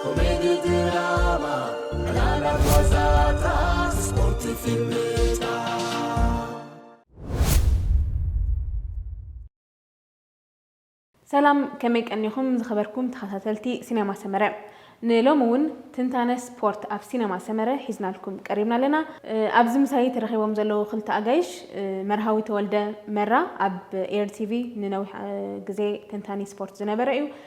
ኮሜዲ ድራማ ዕላላት ዋዛታት ስፖርት ፊልምታት። ሰላም ከመይ ቀኒኹም ዝኸበርኩም ተኸታተልቲ ሲነማ ሰመረ ንሎሚ እውን ትንታነ ስፖርት ኣብ ሲነማ ሰመረ ሒዝናልኩም ቀሪብና ኣለና ኣብዚ ምሳይ ተረኺቦም ዘለዉ ክልተ ኣጋይሽ መርሃዊ ተወልደ መራ ኣብ ኤር ቲቪ ንነዊሕ ግዜ ተንታኒ ስፖርት ዝነበረ እዩ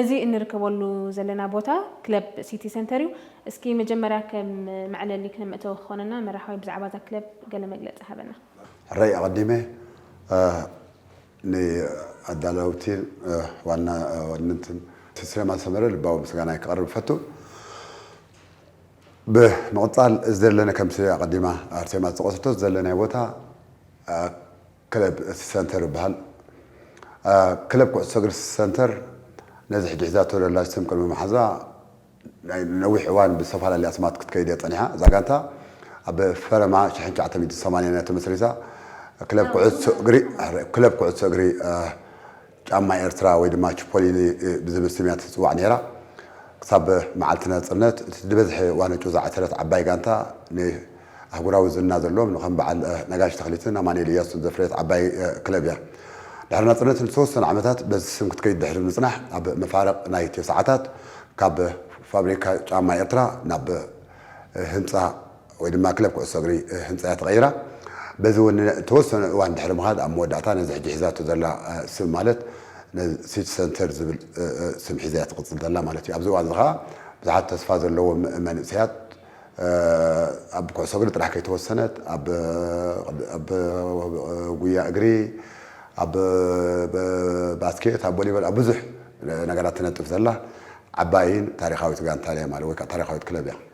እዚ እንርከበሉ ዘለና ቦታ ክለብ ሲቲ ሰንተር እዩ። እስኪ መጀመርያ ከም መዕለሊ ክም መእተዊ ክኾነና መራሕዋይ ብዛዕባ እዛ ክለብ ገለ መግለጺ ሃበና። ሕራይ ኣቐዲመ ንኣዳለውቲን ዋና ዋንንትን ሲቲ ሲነማ ሰመረ ልባዊ ምስጋናይ ከቕርብ እፈቱ። ብምቕጻል እዚ ዘለና ከምቲ ኣቐዲማ ኣርሴማ ዝጠቐሰቶ እዚ ዘለናዮ ቦታ ክለብ እቲ ሰንተር ይበሃል። ክለብ ኩዕሶ እግሪ ሰንተር ነዚ ሕጂ ሒዛቶ ዘላ ስም ቅድሚ ምሓዛ ናይ ነዊሕ እዋን ብዝተፈላለየ ኣስማት ክትከይድ እያ ጸኒሓ። እዛ ጋንታ ኣብ ፈለማ ሽሕን ትሽዓተ ሚእትን ሰማንያን እያ ተመስሪታ። ክለብ ኩዕሶ እግሪ ክለብ ኩዕሶ እግሪ ጫማ ኤርትራ ወይ ድማ ቺፖሊኒ ብዝብል ስም እያ ትጽዋዕ ነይራ። ክሳብ መዓልቲ ናጽነት እቲ ዝበዝሐ ዋንጭ ዝዓተረት ዓባይ ጋንታ ንኣህጉራዊ ዝና ዘለዎም ንከም በዓል ነጋሽ ተኽሊትን ኣማኑኤል እያሱን ዘፍረየት ዓባይ ክለብ እያ። ድሕሪ ናጽነት ንዝተወሰኑ ዓመታት በዚ ስም ክትከይድ ድሕሪ ምጽናሕ ኣብ መፋርቕ ናይ ተሰዓታት ካብ ፋብሪካ ጫማ ኤርትራ ናብ ህንጻ ወይ ድማ ክለብ ኩዕሶ እግሪ ህንጻ'ያ ተቐይራ። በዚ እውን ንእተወሰነ እዋን ድሕሪ ምኻድ ኣብ መወዳእታ ነዚ ሕጂ ሒዛቶ ዘላ ስም ማለት ሲቲ ሰንተር ዝብል ስም ሒዛ'ያ ትቕጽል ዘላ ማለት እዩ። ኣብዚ እዋን'ዚ ከኣ ብዙሓት ተስፋ ዘለዎም መንእሰያት ኣብ ኩዕሶ እግሪ ጥራሕ ከይተወሰነት ኣብ ኣብ ጉያ እግሪ ኣብ ባስኬት ኣብ ቦሊበል ኣብ ብዙሕ ነገራት ትነጥፍ ዘላ ዓባይን ታሪኻዊት ጋንታን'ያ ማለት ወይ ከኣ ታሪኻዊት ክለብ'ያ።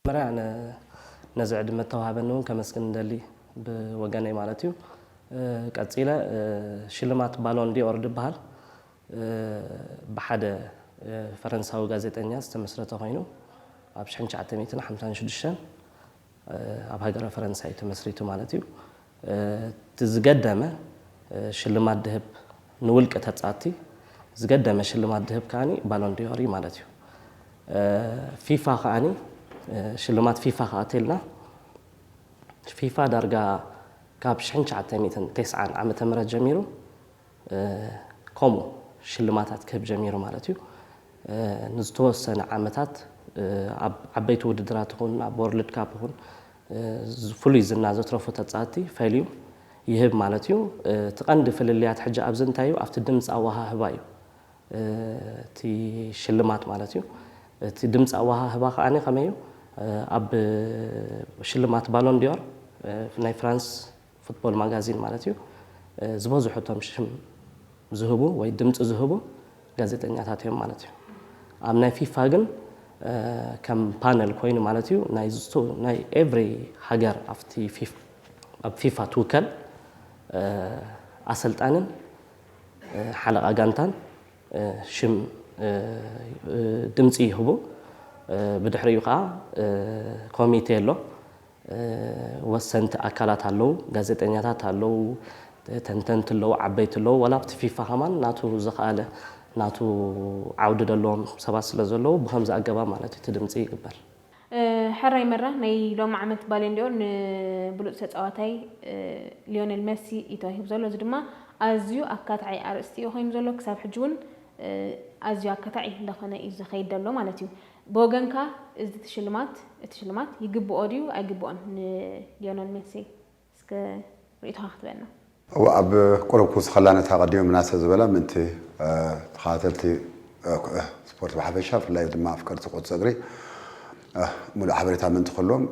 መጀመርያ ኣነ ነዚ ዕድመ እተዋህበኒ እውን ከመስግን እደሊ ብወገነይ ማለት እዩ። ቀጺለ ሽልማት ባሎን ዲ'ኦር ድበሃል ብሓደ ፈረንሳዊ ጋዜጠኛ ዝተመስረተ ኮይኑ ኣብ ሽሕን ትሽዓተ ሚእትን ሓምሳን ሽዱሽተን ኣብ ሃገረ ፈረንሳ እዩ ተመስሪቱ ማለት እዩ። እቲ ዝገደመ ሽልማት ድህብ ንውልቂ ተጻቲ ዝገደመ ሽልማት ድህብ ከኣ ባሎን ዲዮር እዩ ማለት እዩ። ፊፋ ከኣ ሽልማት ፊፋ ከኣ ተልና ፊፋ ዳርጋ ካብ ሽሕን ትሽዓተ ሚእትን ቴስዓን ዓመተ ምህረት ጀሚሩ ከምኡ ሽልማታት ክህብ ጀሚሩ ማለት እዩ። ንዝተወሰነ ዓመታት ኣብ ዓበይቲ ውድድራት ይኹን ኣብ ወርልድ ካፕ ይኹን ፍሉይ ዝና ዘትረፉ ተጻቲ ፈልዩ ይህብ ማለት እዩ። እቲ ቀንዲ ፍልልያት ሕጂ ኣብዚ እንታይ እዩ ኣብቲ ድምጺ ኣወሃህባ እዩ እቲ ሽልማት ማለት እዩ። እቲ ድምጺ ኣወሃህባ ከኣ ከመይ እዩ ኣብ ሽልማት ባሎን ዲዮር ናይ ፍራንስ ፉትቦል ማጋዚን ማለት እዩ ዝበዝሑ እቶም ሽም ዝህቡ ወይ ድምፂ ዝህቡ ጋዜጠኛታት እዮም ማለት እዩ ኣብ ናይ ፊፋ ግን ከም ፓነል ኮይኑ ማለት እዩ ናይ ኤቭሪ ሃገር ኣብ ፊፋ ትውከል ኣሰልጣንን ሓለቓ ጋንታን ሽም ድምፂ ይህቡ ብድሕሪኡ ከዓ ኮሚቴ ኣሎ ወሰንቲ ኣካላት ኣለው ጋዜጠኛታት ኣለው ተንተንቲ ኣለው ዓበይቲ ኣለው ዋላ ኣብቲ ፊፋ ከማን ናቱ ዝኸኣለ ናቱ ዓውዲ ዘለዎም ሰባት ስለ ዘለው ብኸምዚ ኣገባብ ማለት እዩ እቲ ድምጺ ይግበር። ሕራይ መራ ናይ ሎሚ ዓመት ባሎንዲ'ኦር ንብሉጽ ተጻዋታይ ሊዮነል መሲ እዩ ተዋሂቡ ዘሎ። እዚ ድማ ኣዝዩ ኣካታዒ ኣርእስቲ እዩ ኮይኑ ዘሎ ክሳብ ሕጂ ውን ኣዝዩ ኣካታዒ እንዳኾነ እዩ ዝኸይድ ዘሎ ማለት እዩ። ብወገንካ እዚ ትሽልማት እቲ ሽልማት ይግብኦ ድዩ ኣይግብኦን ንሊዮነል ሜሲ እስከ ርእይቶኻ ክትበና። እወ ኣብ ቁሩብ ክውስኸላ ነታ ኣቐዲመ ምናሰ ዝበላ ምእንቲ ተኸታተልቲ ስፖርት ብሓፈሻ ብፍላይ ድማ ኣፍቀርቲ ኩዕሶ እግሪ ምሉእ ሓበሬታ ምእንቲ ክህልዎም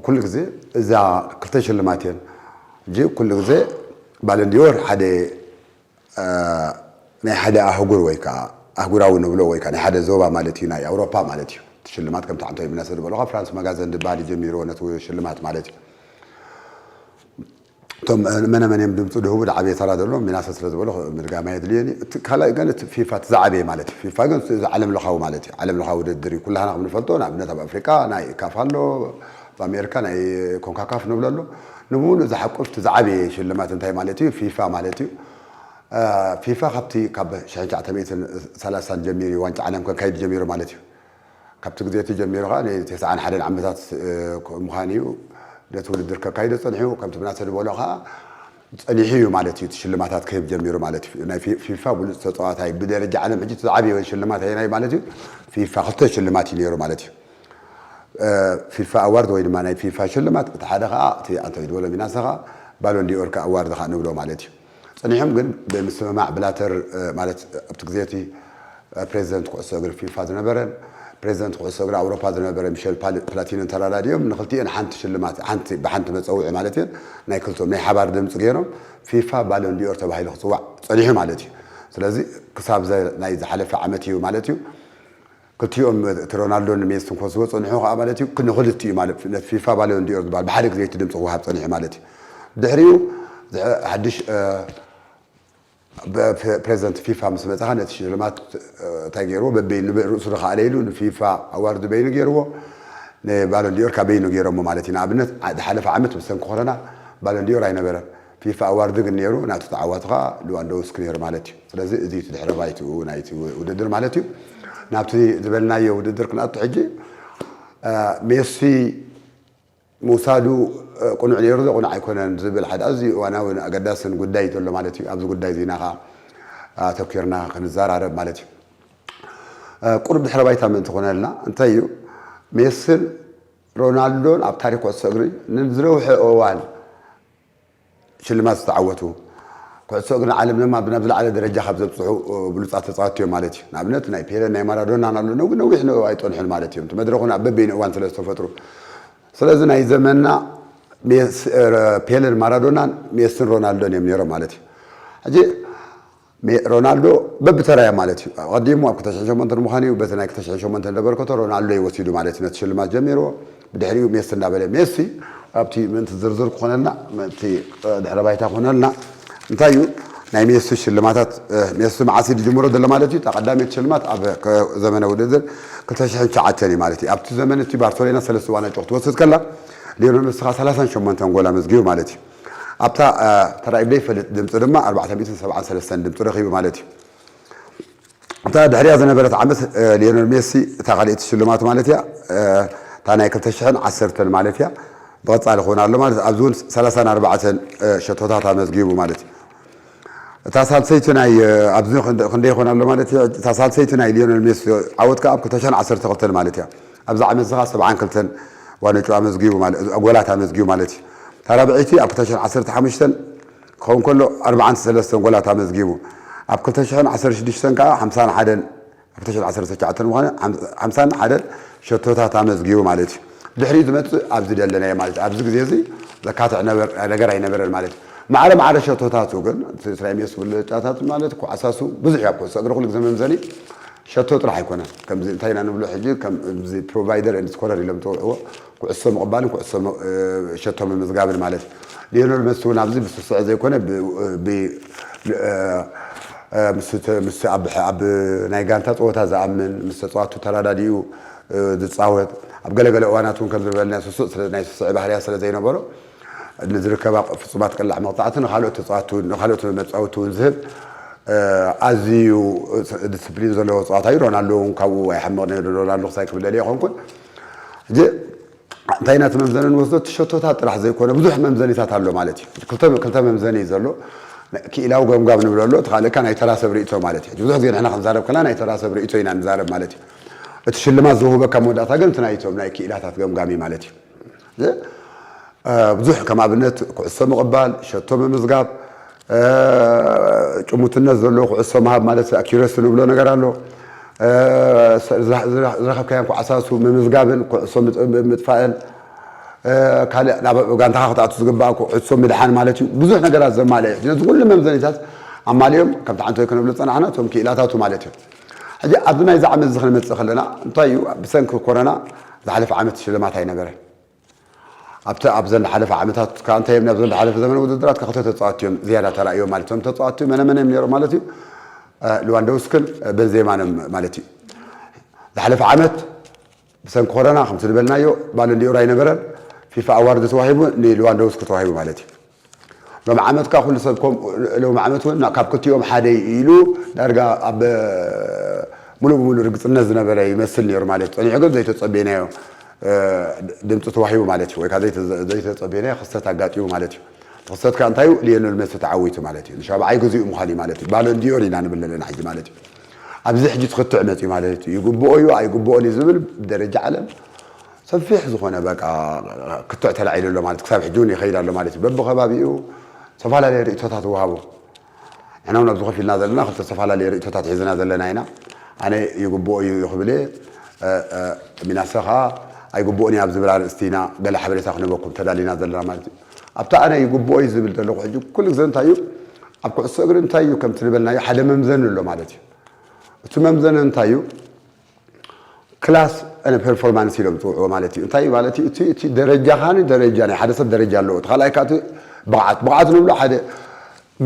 ኩሉ ግዜ እዛ ክልተ ሽልማት እየን ሕጂ ኩሉ ግዜ ባለንዲዮር ሓደ ናይ ሓደ ኣህጉር ወይ ከኣ ኣህጉራዊ ንብሎ ወይ ከኣ ናይ ሓደ ዞባ ማለት እዩ ናይ ኣውሮፓ ማለት እዩ እቲ ሽልማት ከምቲ ዓንቶ ኢብነሰ ዝበሎ ካብ ፍራንስ ማጋዘን ድበሃል እዩ ጀሚርዎ ነቲ ሽልማት ማለት እዩ እቶም መነ መን እዮም ድምፁ ድህቡ ዝዓበየ ተራ ዘለዎም ሚናሰ ስለ ዝበሎ ምድጋም ኣየድልየን እዩ እቲ ካልኣይ ግን እቲ ፊፋ እቲ ዝዓበየ ማለት እዩ ፊፋ ግን እዚ ዓለም ለኻዊ ማለት እዩ ዓለም ለኻዊ ውድድር እዩ ኩላህና ከም ንፈልጦ ንኣብነት ኣብ ኣፍሪቃ ናይ ካፍ ኣሎ ኣብ ኣሜሪካ ናይ ኮንካካፍ ንብሎ ኣሎ ንሙሉእ ዝሓቁፍ እቲ ዝዓበየ ሽልማት እንታይ ማለት እዩ ፊፋ ማለት እዩ ፊፋ ካብቲ ካብ ሽሕን ትሽዓተ ሚእትን ሰላሳን ጀሚሩ እዩ ዋንጫ ዓለም ከካይድ ጀሚሩ ማለት እዩ ካብቲ ግዜ እቲ ጀሚሩ ከዓ ንተስዓን ሓደን ዓመታት ምዃን እዩ ነቲ ውድድር ከካይዶ ፀኒሑ ከምቲ ምናሰ ዝበሎ ከዓ ፀኒሑ እዩ ማለት እዩ እቲ ሽልማታት ክህብ ጀሚሩ ማለት እዩ ናይ ፊፋ ብሉፅ ተፃዋታይ ብደረጃ ዓለም ሕጂ እቲ ዝዓበየ ሽልማት ኣየናይ ማለት እዩ ፊፋ ክልተ ሽልማት እዩ ነይሩ ማለት እዩ ፊፋ ኣዋርድ ወይ ድማ ናይ ፊፋ ሽልማት እቲ ሓደ ከኣ እቲ ኣንቶኒ ድበሎ ሚናሰ ከኣ ባሎን ዲኦር ከኣ ኣዋርድ ከኣ ንብሎ ማለት እዩ። ጸኒሖም ግን ብምስምማዕ ብላተር ማለት ኣብቲ ግዜ እቲ ፕረዚደንት ኩዕሶ እግሪ ፊፋ ዝነበረን ፕረዚደንት ኩዕሶ እግሪ ኣውሮፓ ዝነበረ ሚሸል ፕላቲንን ተራዳዲኦም ንኽልቲኤን ሓንቲ ሽልማት ሓንቲ ብሓንቲ መጸውዒ ማለት እየን ናይ ክልቲኦም ናይ ሓባር ድምጺ ገይሮም ፊፋ ባሎን ዲኦር ተባሂሉ ክጽዋዕ ጸኒሑ ማለት እዩ። ስለዚ ክሳብ ናይ ዝሓለፈ ዓመት እዩ ማለት እዩ። ክልቲኦም እቲ ሮናልዶን ሜስን ክወስድዎ ዝጸንሑ ከኣ ማለት እዩ ንኽልቲኡ ማለት ነቲ ፊፋ ባሎን ዲ'ኦር ዝበሃል ብሓደ ግዜ እቲ ድምጺ ክወሃብ ጸኒሑ ማለት እዩ። ድሕሪኡ ሓድሽ ፕረዚደንት ፊፋ ምስ መጸ ከኣ ነቲ ሽልማት እንታይ ገይርዎ በበይኑ ርእሱ ዝኸኣለ ኢሉ ንፊፋ ኣዋርድ በይኑ ገይርዎ ንባሎን ዲ'ኦር ከኣ በይኑ ገይሮሞ ማለት እዩ። ንኣብነት ዝሓለፈ ዓመት ብሰንኪ ኮሮና ባሎን ዲ'ኦር ኣይነበረን። ፊፋ ኣዋርድ ግን ነይሩ፣ ናቱ ተዓዋቲ ከኣ ልዋንዶውስኪ ነይሩ ማለት እዩ። ስለዚ እዚ እዩ እቲ ድሕረ ባይትኡ ናይቲ ውድድር ማለት እዩ። ናብቲ ዝበልናዮ ውድድር ክንኣቱ ሕጂ። ሜሲ ምውሳዱ ቅኑዕ ነይሩ ዶ ቅኑዕ ኣይኮነን ዝብል ሓደ ኣዝዩ እዋናውን ኣገዳስን ጉዳይ እዩ ዘሎ ማለት እዩ። ኣብዚ ጉዳይ እዚ ኢና ከኣ ኣተኲርና ክንዘራረብ ማለት እዩ። ቁሩብ ድሕረ ባይታ ምእንቲ ክኾነልና እንታይ እዩ ሜስን ሮናልዶን ኣብ ታሪኽ ኩዕሶ እግሪ ንዝነውሐ እዋን ሽልማት ዝተዓወቱ፣ ኩዕሶ እግሪ ንዓለም ድማ ናብ ዝለዓለ ደረጃ ካብ ዘብጽሑ ብሉጻት ተጻወትቲ እዮም ማለት እዩ። ንኣብነት ናይ ፔለን ናይ ማራዶናን ኣሎ፣ ነዊሕ ንኡ ኣይጸንሑን ማለት እዮም፣ እቲ መድረኹ ግን ኣብ በበይኑ እዋን ስለ ዝተፈጥሩ። ስለዚ ናይ ዘመንና ፔለን ማራዶናን ሜስን ሮናልዶን እዮም ነይሮም ማለት እዩ። ሕጂ ሜ ሮናልዶ በብተራዮ ማለት እዩ። ኣቐዲሙ ኣብ ክልተ ሽሕን ሸሞንተን ምዃኑ እዩ በቲ ናይ ክልተ ሽሕን ሸሞንተን ዘበርከቶ ሮናልዶ እዩ ወሲዱ ማለት እዩ ነቲ ሽልማት ጀሚርዎ። ብድሕሪኡ ሜሲ እንዳበለ ሜሲ ኣብቲ ምእንቲ ዝርዝር ክኾነልና ምእንቲ ድሕረ ባይታ ክኾነልና እንታይ እዩ ናይ ሜሲ ሽልማታት ሜሲ መዓስ እዩ ዝጅምሮ ዘሎ ማለት እዩ እታ ቀዳመይቲ ሽልማት ኣብ ዘመነ ውድድር ክልተ ሽሕን ትሽዓተን እዩ ማለት እዩ። ኣብቲ ዘመን እቲ ባርሰሎና ሰለስተ ዋንጫ ክትወስድ ከላ ሊዮነል መስኻ ሰላሳን ሸሞንተን ጎል ኣመዝጊቡ ማለት እዩ። ኣብታ ተራእዩ ዘይፈልጥ ድምጺ ድማ ኣርባዕተ ሚእትን ሰብዓን ሰለስተን ድምጺ ረኺቡ ማለት እዩ። እታ ድሕሪኣ ዝነበረት ዓመት ሊዮነል ሜሲ እታ ካልኣይቲ ሽልማቱ ማለት እያ፣ እታ ናይ ክልተ ሽሕን ዓሰርተን ማለት እያ፣ ብቐጻሊ ክውን ኣሎ ማለት ኣብዚ እውን ሰላሳን ኣርባዕተን ሸቶታት ኣመዝጊቡ ማለት እዩ። እታ ሳልሰይቲ ናይ ኣብዚ ክንደይ ይኾን ኣሎ ማለት እያ፣ እታ ሳልሰይቲ ናይ ሊዮነል ሜሲ ዓወት ከኣ ኣብ ክልተ ሽሕን ዓሰርተ ክልተን ማለት እያ። ኣብዚ ዓመት እዚ ከኣ ሰብዓን ክልተን ዋንጫ ኣመዝጊቡ ማለት ጎላት ኣመዝጊቡ ማለት እዩ። እታ ራብዐይቲ ኣብ ክልተ ሽሕን ዓሰርተ ሓሙሽተን ክኸውን ከሎ ኣርብዓን ሰለስተን ጎላት ኣመዝጊቡ። ኣብ ክልተ ሽሕን ዓሰርተ ሽዱሽተን ከኣ ሓምሳን ሓደን 2019 ምዃኑ ሓምሳን ሓደ ሸቶታት ኣመዝጊቡ ማለት እዩ። ድሕሪኡ ዝመጽእ ኣብ ዝደለናዮ ማለት እዩ። ኣብዚ ግዜ እዚ ዘካትዕ ነገር ኣይነበረን ማለት እዩ። ማዕረ ማዕረ ሸቶታቱ ግን እቲ እስራኤል ሜሲ ብልጫታቱ ማለት እዩ ዓሳሱ ብዙሕ እዩ ኣብ ኩዕሶ እግሪ ኩሉ ግዜ መምዘኒ ሸቶ ጥራሕ ኣይኮነን። ከምዚ እንታይ ኢና ንብሎ ሕጂ ከምዚ ፕሮቫይደር ኤንድ ስኮረር ኢሎም ዝጸውዕዎ ኩዕሶ ምቕባልን ኩዕሶ ሸቶ ምምዝጋብን ማለት እዩ። ሊዮነል መሲ እውን ኣብዚ ብስሱዐ ዘይኮነ ምስ ኣብ ናይ ጋንታ ፀወታ ዝኣምን ምስ ተፃዋቱ ተረዳዲኡ ዝፃወት ኣብ ገለ ገለ እዋናት እውን ከምዚ ዝበልናዮ ስሱዕ ናይ ስስዐ ባህርያት ስለዘይነበሮ ንዝርከባ ፍፁማት ቅላዕ መቕፃዕቲ ንካልኦት ተፃዋቲ ንካልኦት መፃወቲ እውን ዝህብ ኣዝዩ ድስፕሊን ዘለዎ ተፃዋታይ እዩ። ሮናልዶ እውን ካብኡ ኣይሓምቕን ነይሩ ሮናልዶ ክሳይ ክብለልይ ኣይኮንኩን። ሕጂ እንታይ ኢና እቲ መምዘኒ ንወስዶ? እቲ ሸቶታት ጥራሕ ዘይኮነ ብዙሕ መምዘኒታት ኣሎ ማለት እዩ። ሕጂ ክልተ ክልተ መምዘኒ እዩ ዘሎ። ናይ ክኢላዊ ገምጋም ንብሎ ኣሎ፣ እቲ ካልእ ከኣ ናይ ተራ ሰብ ርእይቶ ማለት እዩ። ሕጂ ብዙሕ ግዜ ንሕና ክንዛረብ ከለና ናይ ተራ ሰብ ርእይቶ ኢና ንዛረብ ማለት እዩ። እቲ ሽልማት ዝውህበካ መወዳእታ ግን እቲ ናይ እቶም ናይ ክኢላታት ገምጋም እዩ ማለት እዩ። ብዙሕ ከም ኣብነት ኩዕሶ ምቕባል፣ ሸቶ ምምዝጋብ፣ ጭሙትነት ዘለዎ ኩዕሶ ምሃብ ማለት ኣኪረሲ ንብሎ ነገር ኣሎ። ዝረኸብካዮም ኩዓሳሱ ምምዝጋብን ኩዕሶ ምጥፋእን ካልእ ናብ ጋንታኻ ክትኣቱ ዝግባእ ኩዕሶ ምድሓን ማለት እዩ። ብዙሕ ነገራት ዘማልእ እዩ። ነዚ ኩሉ መምዘኒታት ኣማሊኦም ከም ተዓንተዮ ክንብሎ ዝጸናሕና እቶም ክኢላታቱ ማለት እዮም። ሕጂ ኣብዚ ናይዚ ዓመትዚ ክንመጽእ ከለና እንታይ እዩ ብሰንኪ ኮረና ዝሓለፈ ዓመት ሽልማት ኣይነበረን ኣብቲ ኣብዘን ዝሓለፈ ዓመታት ከኣ እንታይ እዮም ናብዘን ዝሓለፈ ዘመነ ውድድራት ከኣ ክልተ ተጻወትቲ እዮም ዝያዳ ተራእዮም ማለት እዮም ተጻወትቲ መነ መነ እዮም ነይሮም ማለት እዩ ልዋንዶውስክን በንዜማን እዮም ማለት እዩ ዝሓለፈ ዓመት ብሰንኪ ኮረና ከምቲ ዝበልናዮ ባሎን ዲ'ኦር ኣይነበረን፣ ፊፋ ኣዋርድ ተዋሂቡ ንልዋንዶውስኪ ተዋሂቡ ማለት እዩ። ሎሚ ዓመት ከኣ ኩሉ ሰብ ከምኡ ሎሚ ዓመት ውን ካብ ክልቲኦም ሓደ እዩ ኢሉ ዳርጋ ኣብ ምሉእ ብምሉእ ርግጽነት ዝነበረ ይመስል ኔሩ ማለት እዩ። ጸኒሑ ግን ዘይተጸበይናዮ ድምጺ ተዋሂቡ ማለት እዩ ወይ ከኣ ዘይተጸበይናዮ ክስተት ኣጋጢሙ ማለት እዩ። እቲ ክስተት ከኣ እንታይ እዩ ሊዮነል መሲ ተዓዊቱ ማለት እዩ። ንሻብዓይ ግዜኡ ምዃኑ እዩ ማለት እዩ ባሎን ዲ'ኦር ኢና ንብል ዘለና ሕጂ ማለት እዩ። ኣብዚ ሕጂ እቲ ክትዕ መጺኡ ማለት እዩ። ይግብኦ እዩ ኣይግብኦን እዩ ዝብል ብደረጃ ዓለም ሰፊሕ ዝኾነ በቃ ክትዕ ተላዒሉ ኣሎ ማለት ክሳብ ሕጂ እውን ይኸይድ ኣሎ ማለት እዩ። በብኸባቢኡ ዝተፈላለየ ርእይቶታት ይወሃቡ። ንሕና እውን ኣብዚ ኮፍ ኢልና ዘለና ክልተ ዝተፈላለየ ርእይቶታት ሒዝና ዘለና ኢና። ኣነ ይግብኦ እዩ ክብል እየ፣ ሚናሰ ከኣ ኣይግብኦን እዩ ኣብ ዝብል ኣርእስቲ ኢና ገለ ሓበሬታ ክንህበኩም ተዳሊና ዘለና ማለት እዩ። ኣብቲ ኣነ ይግብኦ እዩ ዝብል ዘለኹ ሕጂ ኩሉ ግዘ እንታይ እዩ ኣብ ኩዕሶ እግሪ እንታይ እዩ ከምቲ ዝበልናዮ ሓደ መምዘኒ ኣሎ ማለት እዩ እቲ መምዘነ እንታይ እዩ ክላስ ን ፐርፎርማንስ ኢሎም ዝፅውዕዎ ማለት እዩ እንታይ ማለት እዩ እቲ እቲ ደረጃኻኒ ደረጃ ናይ ሓደ ሰብ ደረጃ ኣለዎ እቲ ካልኣይ ከዓ ብቕዓት ብቕዓት ንብሎ ሓደ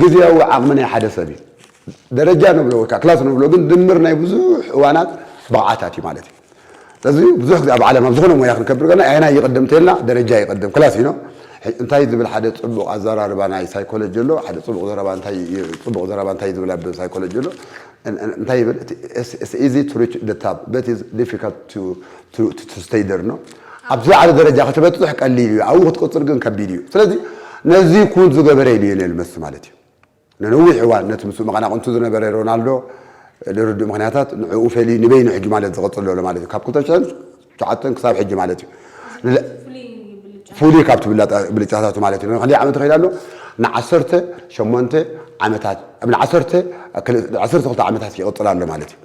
ግዝያዊ ዓቕሚ ናይ ሓደ ሰብ እዩ። ደረጃ ንብሎ ወይ ከኣ ክላስ ንብሎ ግን ድምር ናይ ብዙሕ እዋናት ብቕዓታት እዩ ማለት እዩ። ስለዚ ብዙሕ ግዜ ኣብ ዓለም ኣብ ዝኾነ ሞያ ክንከብር ከለና ኣየናይ ይቕድም እንተይልና ደረጃ ይቕድም፣ ክላስ እዩ። ሕጂ እንታይ ዝብል ሓደ ጽቡቕ ኣዘራርባ ናይ ሳይኮሎጂ ኣሎ፣ ሓደ ጽቡቕ ዘረባ እንታይ እዩ ጽቡቕ ዘረባ እንታይ እዩ ዝብል ኣብ ሳይኮሎጂ ኣሎ። እንታይ ይብል እቲ ኢትስ ኢዚ ቱ ሪች ዘ ታፕ በት ኢትስ ዲፊካልት ቱ ስተይ ዘር ነው። ኣብ ዝለዓለ ደረጃ ክትበፅሕ ቀሊል እዩ፣ ኣብኡ ክትቅፅል ግን ከቢድ እዩ። ስለዚ ነዚ ኩን ዝገበረ እዩ ሊዮኔል መሲ ማለት እዩ። ንነዊሕ እዋን ነቲ ምስኡ መቐናቕንቱ ዝነበረ ሮናልዶ ልርዱእ ምኽንያታት ንዕኡ ፈልዩ ንበይኑ ሕጂ ማለት ዝቕፅል ዘሎ ማለት እዩ ካብ ክልተ ሽሕን ትዓጥን ክሳብ ሕጂ ማለት እዩ። ፍሉይ ካብ ትብላ ብልጫታቱ ማለት እዩ። ክንደይ ዓመት ይኸይድ ኣሎ? ንዓሰርተ ሸሞንተ ዓመታት ንዓሰርተ ዓሰርተ ክልተ ዓመታት ይቕጽል ኣሎ ማለት እዩ።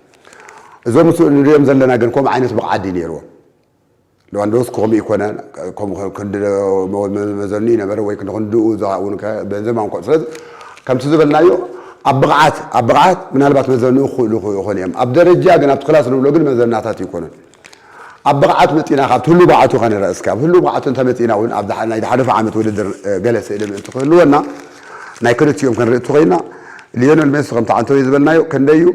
እዞም ምስ ንሪኦም ዘለና ግን ከምኡ ዓይነት ብቕዓት ድዩ ነይርዎም? ሌዋንዶውስኪ ከምኡ ይኮነ ከምኡ ክንዲ መዘኑ እዩ ነበረ ወይ ክንድኡ እውን በዘም ኣንኮ ስለዚ ከምቲ ዝበልናዮ ኣብ ብቕዓት ኣብ ብቕዓት ምናልባት መዘንኡ ክኽእሉ ይኾኑ እዮም ኣብ ደረጃ ግን ኣብቲ ክላስ ንብሎ ግን መዘናታት ይኮኑን ኣብ ብቕዓት መጢና ካብቲ ህሉው ብቕዓቱ ከንርኣ እስከ። ኣብ ህሉው ብቕዓቱ እንተመጺእና እውን ኣብ ናይ ዝሓለፈ ዓመት ውድድር ገለ ስእሊ ምእንቲ ክህልወና ናይ ክልቲኦም ክንርኢ እንተኾይንና ሊዮነል ሜሲ ከምቲ ዓንተወይ ዝበልናዮ ከንደይ እዩ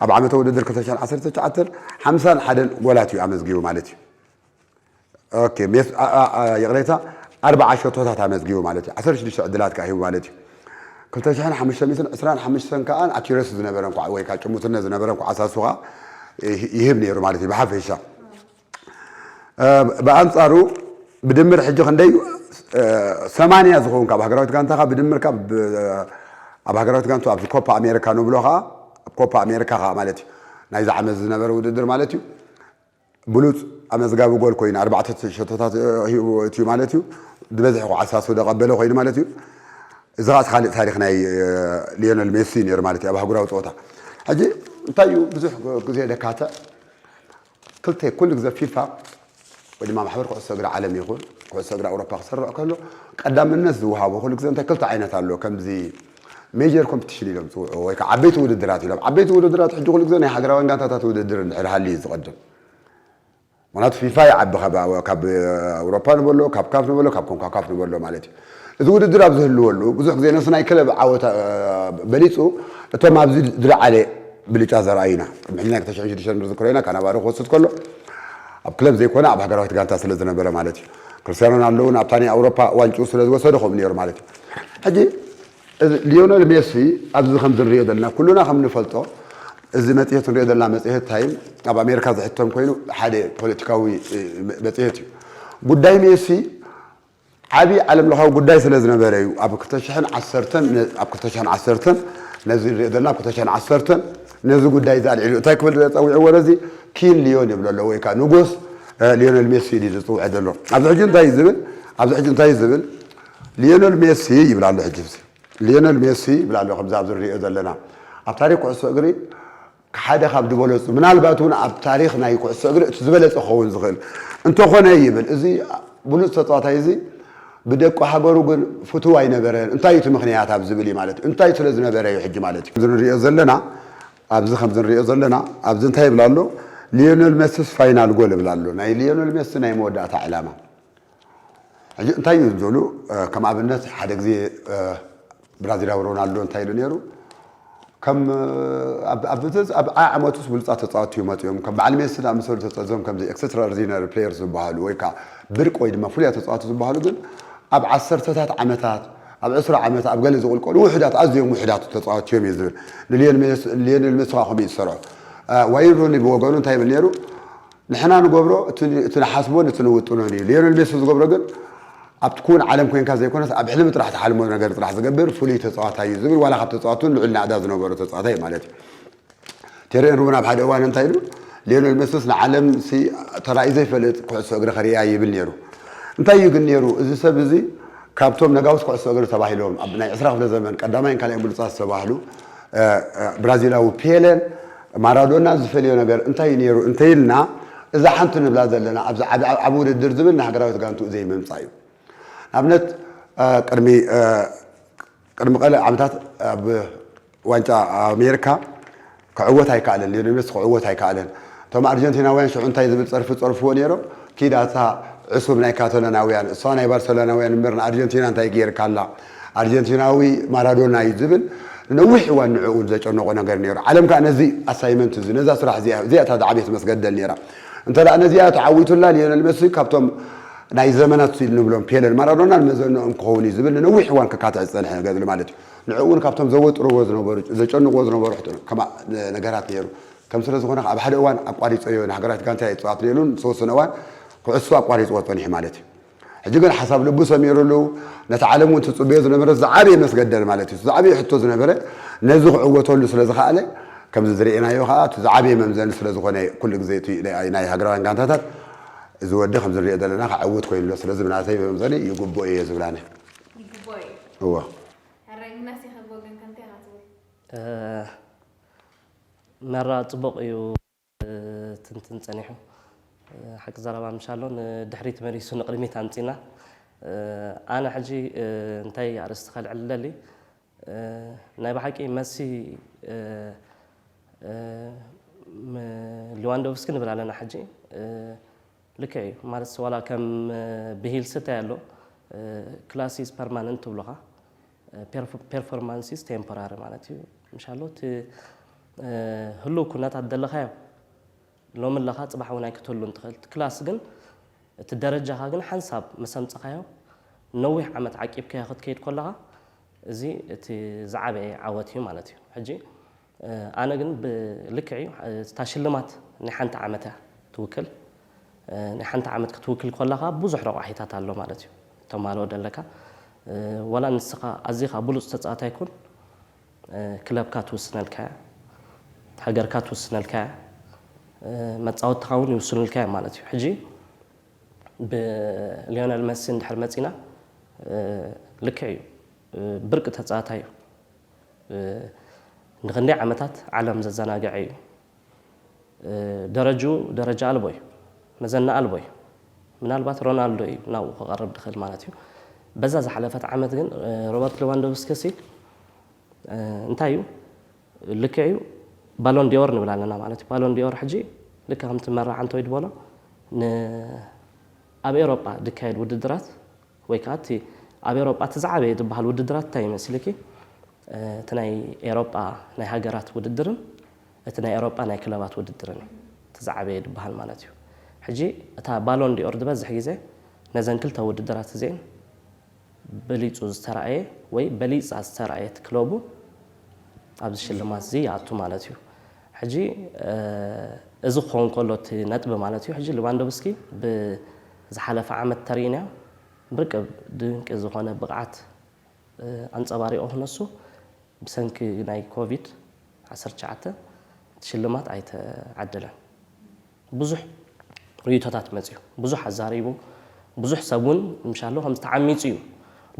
ኣብ ዓመተ ውድድር ክልተ ሽሕን ዓሰርተ ትሽዓተን ሓምሳን ሓደን ጎላት እዩ ኣመዝጊቡ ማለት እዩ። ኦኬ ሜስ ይቕሬታ ኣርብዓ ሸቶታት ኣመዝጊቡ ማለት እዩ። ዓሰርተ ሽዱሽተ ዕድላት ከኣ ሂቡ ማለት እዩ። ክልተ ሽሕን ሓሙሽተ ሚእትን ዕስራን ሓሙሽተን ከኣ ኣኪረሲ ዝነበረ እንኳዕ ወይ ከዓ ጭሙትነት ዝነበረ እንኳዕ ኣሳሱኻ ይህብ ነይሩ ማለት እዩ ብሓፈሻ ብኣንጻሩ ብድምር ሕጂ ክንደይ ሰማንያ ዝኸውን ካብ ሃገራዊት ጋንታኻ ብድምር ካብ ኣብ ሃገራዊት ጋንቱ ኣብዚ ኮፓ ኣሜሪካ ንብሎ ከዓ ኣብ ኮፓ ኣሜሪካ ከዓ ማለት እዩ ናይዚ ዓመት ዝነበረ ውድድር ማለት እዩ ብሉጽ ኣመዝጋቢ ጎል ኮይኑ ኣርባዕተ ሸቶታት ሂቡ ኣእትዩ ማለት እዩ። ዝበዝሐ ኹዓ ኣሳሱ ዘቀበለ ኮይኑ ማለት እዩ። እዚ ኻኣ ኻልእ ታሪኽ ናይ ሊዮነል ሜሲ ነይሩ ማለት እዩ ኣብ ኣህጉራዊ ጸወታ። ሕጂ እንታይ እዩ ብዙሕ ግዜ ደካትዕ ክልተ ኩሉ ግዜ ፊፋ ወይ ድማ ማሕበር ኩዕሶ እግሪ ዓለም ይኹን ኩዕሶ እግሪ ኣውሮፓ ክስርዕ ከሎ ቀዳምነት ዝውሃቦ ኩሉ ግዜ እንታይ ክልተ ዓይነት ኣሎ ከምዚ ሜጀር ኮምፕቲሽን ኢሎም ዝፅውዕዎ ወይ ከዓ ዓበይቲ ውድድራት ኢሎም። ዓበይቲ ውድድራት ሕጂ ኩሉ ግዘ ናይ ሃገራውያን ጋንታታት ውድድር እንድሕር ሃልዩ እዩ ዝቐድም። ምኽንያቱ ፊፋ ይዓቢ ካብ ኣውሮፓ ንበሎ ካብ ካፍ ንበሎ ካብ ኮንካካፍ ንበሎ ማለት እዩ። እዚ ውድድር ኣብ ዝህልወሉ ብዙሕ ግዘ ነቲ ናይ ክለብ ዓወት በሊፁ እቶም ኣብዚ ዝለዓለ ብልጫ ዘርኣዩና ቅድሚ ሕጂ ናይ ክልተ ሽሕን ሽዱሽተን ንዝክሮ ኢና ካናቫሮ ክወስድ ከሎ ኣብ ክለብ ዘይኮነ ኣብ ሃገራዊት ጋንታ ስለ ዝነበረ ማለት እዩ። ክርስትያኖ ሮናልዶ እውን ኣብታ ናይ ኣውሮፓ ዋንጭኡ ስለ ዝወሰደ ከምኡ ነይሩ ማለት እዩ። ሕጂ እዚ ሊዮነል ሜሲ ኣብዚ ከምዚ ንሪኦ ዘለና ኩሉና ከም ንፈልጦ እዚ መጽሔት ንሪኦ ዘለና መጽሔት ታይም ኣብ ኣሜሪካ ዝሕተም ኮይኑ ሓደ ፖለቲካዊ መጽሔት እዩ። ጉዳይ ሜሲ ዓቢ ዓለምለኻዊ ጉዳይ ስለ ዝነበረ እዩ ኣብ ክልተ ሽሕን ዓሰርተን ነ- ኣብ ክልተ ሽሕን ዓሰርተን ነዚ ንሪኦ ዘለና ኣብ ክልተ ሽሕን ዓሰርተን ነዚ ጉዳይ እዚ ኣልዒሉ እንታይ ክብል ጸዊዕዎ ነዚ ኪን ሊዮን ይብሎ ኣሎ ወይ ከዓ ንጉስ እ፣ ሊዮነል ሜሲ ኢሉ እዩ ዝጽውዖ ዘሎ ኣብዚ ሕጂ እንታይ እዩ ዝብል ኣብዚ ሕጂ እንታይ እዩ ዝብል ሊዮነል ሜሲ ይብል ኣሎ ሕጂስ ሊዮነል ሜሲ ይብል ኣሎ ከምዚ ኣብዚ ንሪኦ ዘለና ኣብ ታሪክ ኩዕሶ እግሪ ሓደ ካብ ዝበለፁ ምናልባት እውን ኣብ ታሪክ ናይ ኩዕሶ እግሪ እቲ ዝበለፀ ክኸውን ዝኽእል እንተኾነ ይብል እዚ ብሉፅ ተፃዋታይ እዚ ብደቂ ሃገሩ ግን ፍትው ኣይነበረን እንታይ እቲ ምክንያት ኣብ ዝብል እዩ ማለት እዩ እንታይ ስለ ዝነበረ እዩ ሕጂ ማለት እዩ ንሪኦ ዘለና ኣብዚ ከምዚ ንሪኦ ዘለና ኣብዚ እንታይ ይብል ኣሎ ሊዮነል ሜሲስ ፋይናል ጎል ይብል ኣሎ ናይ ሊዮነል ሜሲ ናይ መወዳእታ ዕላማ ሕጂ እንታይ እዩ ዝብሉ ከም ኣብነት ሓደ ግዜ ብራዚላዊ ሮናልዶ እንታይ ኢሉ ነይሩ ከም ኣብ ዓመቱስ ብሉፃት ተፃወትቲ እዩ መፅኦም ከም በዓል ሜሲ ዝኣመሰሉ ተፀዞም ከምዚ ኤክስትራኦርዲነሪ ፕሌየርስ ዝበሃሉ ወይ ከዓ ብርቂ ወይ ድማ ፍሉያት ተፃወትቲ ዝበሃሉ ግን ኣብ ዓሰርተታት ዓመታት ኣብ ዕስራ ዓመት ኣብ ገለ ዝቕልቀሉ ውሕዳት ኣዝዮም ውሕዳት ተፃወትቲ እዮም እዩ ዝብል ንሊዮኔል ሜሲ ከዓ ከምኡ እዩ ዝሰርዖ ዋይን ሩኒ ብወገኑ እንታይ ይብል ነይሩ ንሕና ንገብሮ እቲ ንሓስቦን እቲ ንውጥኖን እዩ። ሊዮኔል ሜሲ ዝገብሮ ግን ኣብቲ ክዉን ዓለም ኮንካ ዘይኮነስ ኣብ ሕልሚ ጥራሕ ትሓልሞ ነገር ጥራሕ ዝገብር ፍሉይ ተጻዋታይ እዩ ዝብል ዋላ ካብ ተጻወቲ ውን ልዑል ናእዳ ዝነበሮ ተጻዋታይ እዩ ማለት እዩ። ቴሪ ኤንሪ ውን ኣብ ሓደ እዋን እንታይ ኢሉ ሊዮኔል ሜሲስ ንዓለምሲ ተራእዩ ዘይፈልጥ ኩዕሶ እግሪ ከርእያ ይብል ኔሩ። እንታይ እዩ ግን ኔሩ እዚ ሰብ እዚ ካብቶም ነጋውስ ኩዕሶ እግሪ ተባሂሎም ኣብ ናይ ዕስራ ክፍለ ዘመን ቀዳማይን ካልኣይን ብሉጻት ዝተባህሉ ብራዚላዊ ፔለን ማራዶና ዝፈልዮ ነገር እንታይ'ዩ ነይሩ እንተይልና፣ እዛ ሓንቲ ንብላ ዘለና ኣብዚ ዓቢ ውድድር ዝብል ንሃገራዊት ጋንትኡ ዘይምምጻእ'ዩ። ንኣብነት ቅድሚ ቅድሚ ቀለ ዓመታት ኣብ ዋንጫ ኣሜሪካ ክዕወት ኣይከኣለን፣ ሊዮኔል ሜሲ ክዕወት ኣይከኣለን። እቶም ኣርጀንቲናውያን ሽዑ እንታይ ዝብል ጸርፊ ዝጸርፍዎ ነይሮም፣ ኪድ ኣታ ዕሱብ ናይ ካቶላናውያን፣ እሷ ናይ ባርሰሎናውያን እምበር ንኣርጀንቲና እንታይ ገይርካላ፣ ኣርጀንቲናዊ ማራዶና እዩ ዝብል ንነዊሕ እዋን ንዕኡ ዘጨነቖ ነገር ነይሩ። ዓለም ከኣ ነዚ ኣሳይመንት እዚ ነዛ ስራሕ እዚኣ እዚኣ እታ ዝዓበየት መስገደል ነይራ። እንተደኣ ነዚኣ ተዓዊቱላ ሊዮነል መሲ ካብቶም ናይ ዘመናት ንብሎም ፔለን ማራዶናን መዘነኦም ክኸውን እዩ ዝብል ንነዊሕ እዋን ክካትዕ ዝጸንሐ ነገር ኣሎ ማለት እዩ። ንዕኡ እውን ካብቶም ዘወጥርዎ ዝነበሩ ዘጨንቕዎ ዝነበሩ ነገራት ነይሩ። ከም ስለ ዝኾነ ከኣ ኣብ ሓደ እዋን ኣቋሪጸዮ ንሃገራዊት ጋንታ እየ ዝጸዋት ነይሩን ዝተወሰነ እዋን ኩዕሶ ኣቋሪጽዎ ጸኒሑ ማለት እዩ። ሕጂ ግን ሓሳብ ልቡ ሰሚሩሉ ነቲ ዓለም እውን ትጽበዮ ዝነበረት ዝዓበየ መስገደል ማለት እዩ እቲ ዝዓበየ ሕቶ ዝነበረ ነዚ ክዕወተሉ ስለ ዝኸኣለ ከምዚ ዝርኤናዮ ከኣ እቲ ዝዓበየ መምዘኒ ስለ ዝኾነ ኩሉ ግዜ እቲ ናይ ሃገራውያን ጋንታታት እዚ ወዲ ከምዚ ንሪኦ ዘለና ክዕውት ኮይኑ ኣሎ ስለዚ ብናተይ መምዘኒ ይግብኦ እየ ዝብል ኣነ ይግብኦ እዩ እወ ሕራይ ምናስ ይኸቦ ግን ከምታይ ኢኻ ትብል መራ ጽቡቕ እዩ ክትንትን ጸኒሑ ሓቂ ዘረባ ምሽ ኣሎ ንድሕሪት መሊሱ ንቅድሚት ኣምጺና ኣነ ሕጂ እንታይ ኣርእስቲ ከልዕል ዝደሊ ናይ ብሓቂ መሲ ም ሊዋንዶቭስኪ ንብል ኣለና ሕጂ ልክዕ እዩ ማለትስ ዋላ ከም ብሂልሲ እንታይ ኣሎ ክላስ ኢዝ ፐርማነንት ትብሉኻ ፔርፎርማንሲስ ቴምፖራሪ ማለት እዩ ምሻሎ እቲ ህሉው ኩነታት ዘለኻዮ ሎሚ ኣለኻ ፅባሕ እውን ኣይክትህሉን ትኽእል እቲ ክላስ ግን እቲ ደረጃኻ ግን ሓንሳብ ምስ ኣምፀኻዮ ነዊሕ ዓመት ዓቂብካዮ ክትከይድ ከለኻ እዚ እቲ ዝዓበየ ዓወት እዩ ማለት እዩ ሕጂ ኣነ ግን ብልክዕ እዩ እታ ሽልማት ናይ ሓንቲ ዓመት እያ ትውክል ናይ ሓንቲ ዓመት ክትውክል ኮላኻ ብዙሕ ረቋሒታት ኣሎ ማለት እዩ ተማልኦ ደለካ ወላ ንስኻ ኣዚኻ ብሉፅ ተፃዋታይ ኩን ክለብካ ትውስነልካ እያ ሃገርካ ትውስነልካ እያ መፃወትትኻ እውን ይውስኑልካ እዮም ማለት እዩ ሕጂ ብሊዮነል መሲ እንድሕር መፂና ልክዕ እዩ ብርቂ ተፃዋታይ እዩ ንክንደይ ዓመታት ዓለም ዘዘናገዐ እዩ። ደረጅኡ ደረጃ ኣልቦ እዩ። መዘና ኣልቦ እዩ። ምናልባት ሮናልዶ እዩ ናብኡ ክቐርብ ድኽእል ማለት እዩ። በዛ ዝሓለፈት ዓመት ግን ሮበርት ሌዋንዶቭስኪሲ እንታይ እዩ ልክዕ እዩ ባሎን ዲዮር ንብል ኣለና ማለት እዩ። ባሎን ዲዮር ሕጂ ልክ ከምቲ መራዓንቶ ይድበሎ ኣብ ኤሮጳ ዝካየድ ውድድራት ወይ ከኣ እቲ ኣብ ኤሮጳ እቲ ዝዓበየ ዝብሃል ውድድራት እንታይ ይመስልኪ? እቲ ናይ ኤሮጳ ናይ ሃገራት ውድድርን እቲ ናይ ኤሮጳ ናይ ክለባት ውድድርን እዩ እቲ ዝዓበየ ዝብሃል ማለት እዩ። ሕጂ እታ ባሎን ዲ'ኦር ዝበዝሕ ግዜ ነዘን ክልተ ውድድራት እዚኤን በሊጹ ዝተራእየ ወይ በሊጻ ዝተራእየት ክለቡ ኣብዚ ሽልማት እዚ ይኣቱ ማለት እዩ። ሕጂ እዚ ክኸውን ከሎ እቲ ነጥቢ ማለት እዩ ሕጂ ልቫንዶቭስኪ ብ ዝሓለፈ ዓመት ተሪእናዮ ርክብ ድንቂ ዝኾነ ብቕዓት ኣንጸባሪቑ ክነሱ ብሰንኪ ናይ ኮቪድ ዓሰርተ ትሽዓተ እቲ ሽልማት ኣይተዓደለን። ብዙሕ ርእይቶታት መጺኡ፣ ብዙሕ ኣዛሪቡ፣ ብዙሕ ሰብ ውን ምሻሎ ከምዚ ተዓሚጹ እዩ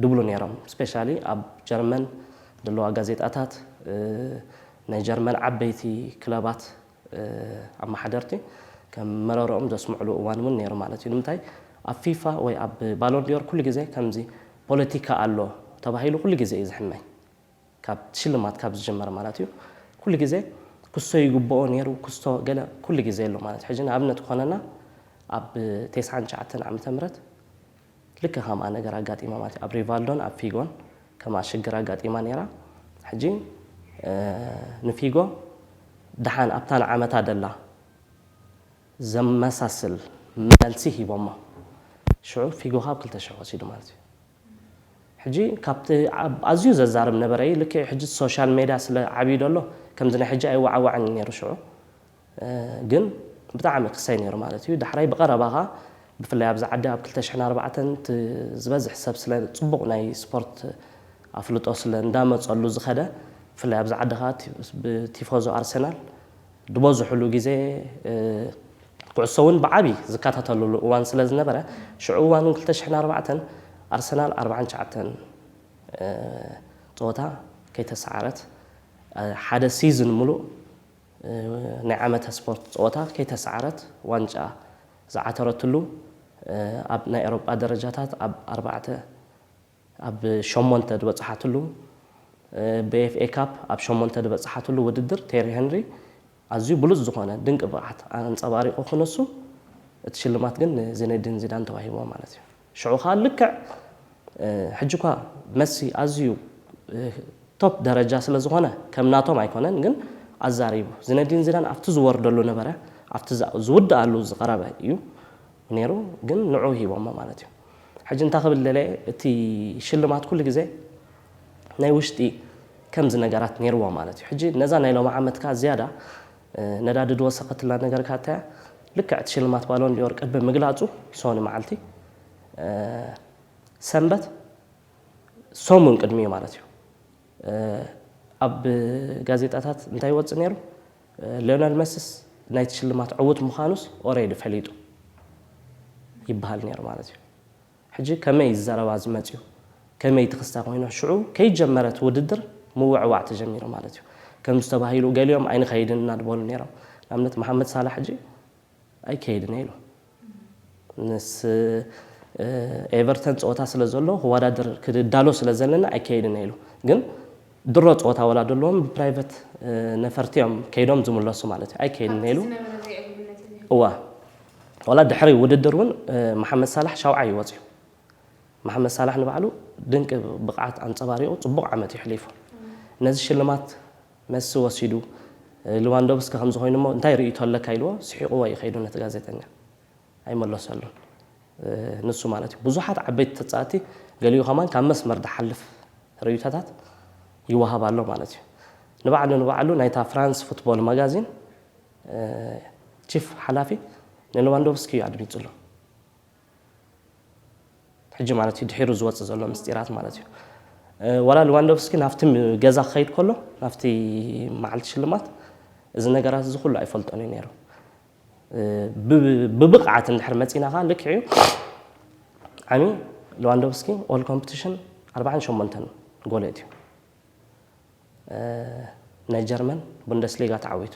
ድብሉ ኔሮም ስፔሻሊ ኣብ ጀርመን ደለዋ ጋዜጣታት ናይ ጀርመን ዓበይቲ ክለባት። ኣመሓደርቲ ከም መረርኦም ዘስምዕሉ እዋን እውን ነይሩ ማለት እዩ። ንምንታይ ኣብ ፊፋ ወይ ኣብ ባሎን ዲዮር ኩሉ ግዜ ከምዚ ፖለቲካ ኣሎ ተባሂሉ ኩሉ ግዜ እዩ ዝሕመይ ካብ ሽልማት ካብ ዝጅመር ማለት እዩ ኩሉ ግዜ ክሶ ይግብኦ ነይሩ ክስቶ ገለ ኩሉ ግዜ ኣሎ ማለት እዩ። ሕጂ ንኣብነት ክኾነና ኣብ ቴስዓን ትሽዓተን ዓመተ ምህረት ልክዕ ከምኣ ነገር ኣጋጢማ ማለት እዩ ኣብ ሪቫልዶን ኣብ ፊጎን ከምኣ ሽግር ኣጋጢማ ኔራ ሕጂ ንፊጎ ደሓን ኣብታ ንዓመታ ደላ ዘመሳስል መልሲ ሂቦማ ሽዑ ፊጎ ካብ ክልተ ሽሕ ወሲዱ ማለት እዩ ሕጂ ካብቲ ኣዝዩ ዘዛርብ ነበረ እዩ ልክዕ ሕጂ ሶሻል ሜድያ ስለ ዓብዩ ደሎ ከምዚ ናይ ሕጂ ኣይወዓዋዕን እዩ ኔሩ ሽዑ ግን ብጣዕሚ ክሰይ ነይሩ ማለት እዩ ዳሕራይ ብቀረባ ከኣ ብፍላይ ኣብዚ ዓዲ ኣብ ክልተ ሽሕን ኣርባዕተን እቲ ዝበዝሕ ሰብ ስለ ጽቡቅ ናይ ስፖርት ኣፍልጦ ስለ እንዳመጸሉ ዝከደ ብፍላይ ኣብዚ ዓዲ ከኣ ብቲፎዞ ኣርሰናል ድበዝሑሉ ግዜ ኩዕሶ ውን ብዓቢ ዝከታተልሉ እዋን ስለ ዝነበረ ሽዑ እዋን ውን ክልተ ሽሕን ኣርባዕተን ኣርሰናል ኣርብዓን ትሽዓተን ጸወታ ከይተሳዓረት ሓደ ሲዝን ምሉእ ናይ ዓመተ ስፖርት ፀወታ ከይተሰዓረት ዋንጫ ዝዓተረትሉ ኣብ ናይ ኤሮጳ ደረጃታት ኣብ ኣርባዕተ ኣብ ሸሞንተ ድበፀሓትሉ ብኤፍኤ ካፕ ኣብ ሸሞንተ ድበፀሓትሉ ውድድር ቴሪ ሄንሪ ኣዝዩ ብሉፅ ዝኾነ ድንቂ ብቕዓት ኣንፀባሪቑ ክነሱ እቲ ሽልማት ግን ንዚነዲን ዚዳን ተዋሂብዎ ማለት እዩ። ሽዑ ከኣ ልክዕ ሕጂ እኳ መሲ ኣዝዩ ቶፕ ደረጃ ስለ ዝኾነ ከም ናቶም ኣይኮነን ግን ኣዛሪቡ ዝነዲን ዚዳን ኣብቲ ዝወርደሉ ነበረ ኣብቲ ዝውድኣሉ ዝቀረበ እዩ ኔሩ ግን ንዑኡ ሂቦሞ ማለት እዩ ሕጂ እንታይ ክብል ደለየ እቲ ሽልማት ኩሉ ግዜ ናይ ውሽጢ ከምዚ ነገራት ኔርዎ ማለት እዩ ሕጂ ነዛ ናይ ሎሚ ዓመት ከኣ ዝያዳ ነዳዲ ዶ ወሰኸትልና ነገርካታያ ልክዕ እቲ ሽልማት ባሎን ዲዮር ቅድሚ ምግላጹ ሶኒ መዓልቲ ሰንበት ሰሙን ቅድሚኡ ማለት እዩ ኣብ ጋዜጣታት እንታይ ይወጽእ ነይሩ ሊዮነል መስስ ናይቲ ሽልማት ዕውት ምዃኑስ ኦሬዲ ፈሊጡ ይበሃል ነይሩ ማለት እዩ። ሕጂ ከመይ እዩ እዚ ዘረባ እዚ መጺኡ ከመይ እቲ ክስታ ኮይና ሽዑ ከይጀመረት ውድድር ምውዕዋዕ ተጀሚሩ ማለት እዩ ከምዚ ተባሂሉ ገሊኦም ኣይንኸይድን እና በሉ ኔሮም ንኣብነት መሓመድ ሳላሕ ሕጂ ኣይከይድን እየ ኢሉ ምስ ኤቨርተን ፀወታ ስለ ዘሎ ክወዳደር ክዳሎ ስለ ዘለና ኣይከይድን እየ ኢሉ ግን ድሮ ፀወታ ወላ ደለዎም ብፕራይቨት ነፈርቲ እዮም ከይዶም ዝምለሱ ማለት እዩ ኣይከይድን እየ ኢሉ እዋ ዋላ ድሕሪ ውድድር እውን መሓመድ ሳላሕ ሻውዓይ እዩ ወፂኡ። መሓመድ ሳላሕ ንባዕሉ ድንቂ ብቕዓት ኣንፀባሪቑ ፅቡቕ ዓመት እዩ ሕሊፉ። ነዚ ሽልማት መሲ ወሲዱ ልዋንዶቭስኪ ከምዚ ኮይኑ እሞ እንታይ ርእይቶ ኣለካ ኢልዎ ስሒቕዎ እዩ ከይዱ ነቲ ጋዜጠኛ። ኣይመለሰሉን ንሱ ማለት እዩ። ብዙሓት ዓበይቲ ተፃወትቲ ገሊኡ ከማን ካብ መስመር ድሓልፍ ርእይቶታት ይወሃብ ኣሎ ማለት እዩ። ንባዕሉ ንባዕሉ ናይታ ፍራንስ ፉትቦል ማጋዚን ቺፍ ሓላፊ ንለዋንዶቭስኪ'ዩ ኣድሚጹ'ሎ። ሕጂ ማለት'ዩ ድሒሩ ዝወጽእ ዘሎ ምስጢራት ማለት'ዩ። ዋላ ለዋንዶቭስኪ ናብቲ ገዛ ክኸይድ ከሎ ናብቲ መዓልቲ ሽልማት እዚ ነገራት እዚ ኩሉ ኣይፈልጦን እዩ ነይሩ። ብብቕዓት እንድሕር መጺና ከኣ ልክዕ እዩ ዓሚ ለዋንዶቭስኪ ኦል ኮምፕቲሽን ኣርባዓን ሸሞንተን ጎል የእትዩ። ናይ ጀርመን ቡንደስሊጋ ተዓዊቱ።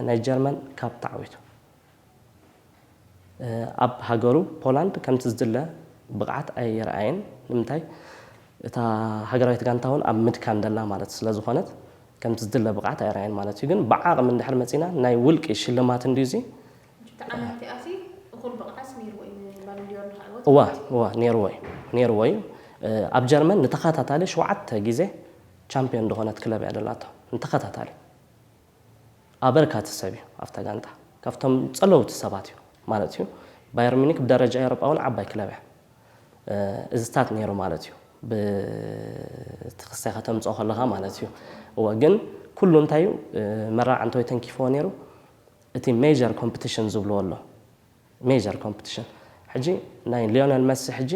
ናይ ጀርመን ካፕ ተዓዊቱ። ኣብ ሃገሩ ፖላንድ ከምቲ ዝድለ ብቕዓት ኣየርኣየን። ንምንታይ እታ ሃገራዊት ጋንታ እውን ኣብ ምድካም ደላ ማለት ስለ ዝኾነት ከምቲ ዝድለ ብቕዓት ኣየርኣየን ማለት እዩ። ግን ብዓቕሚ እንድሕር መጺእና ናይ ውልቂ ሽልማት እንድዩ እዚ። እወ እወ ኔርዎ እዩ ኔርዎ እዩ ኣብ ጀርመን ንተኸታታሊ ሸውዓተ ግዜ ቻምፕዮን ድኾነት ክለብ እያ ደላቶ ንተኸታታሊ ኣበርካቲ ሰብ እዩ ኣብታ ጋንታ ካብቶም ጸለውቲ ሰባት እዩ ማለት እዩ ባየር ሚኒክ ብደረጃ ኤውሮጳ እውን ዓባይ ክለብ እያ እዝታት ኔሩ ማለት እዩ ብቲ ክሳይ ከተምጽኦ ከለኻ ማለት እዩ እወ ግን ኩሉ እንታይ እዩ መራዕ እንተወይ ተንኪፍዎ ኔሩ እቲ ሜጀር ኮምፕትሽን ዝብልዎ ኣሎ ሜጀር ኮምፕትሽን ሕጂ ናይ ሊዮነል መሲ ሕጂ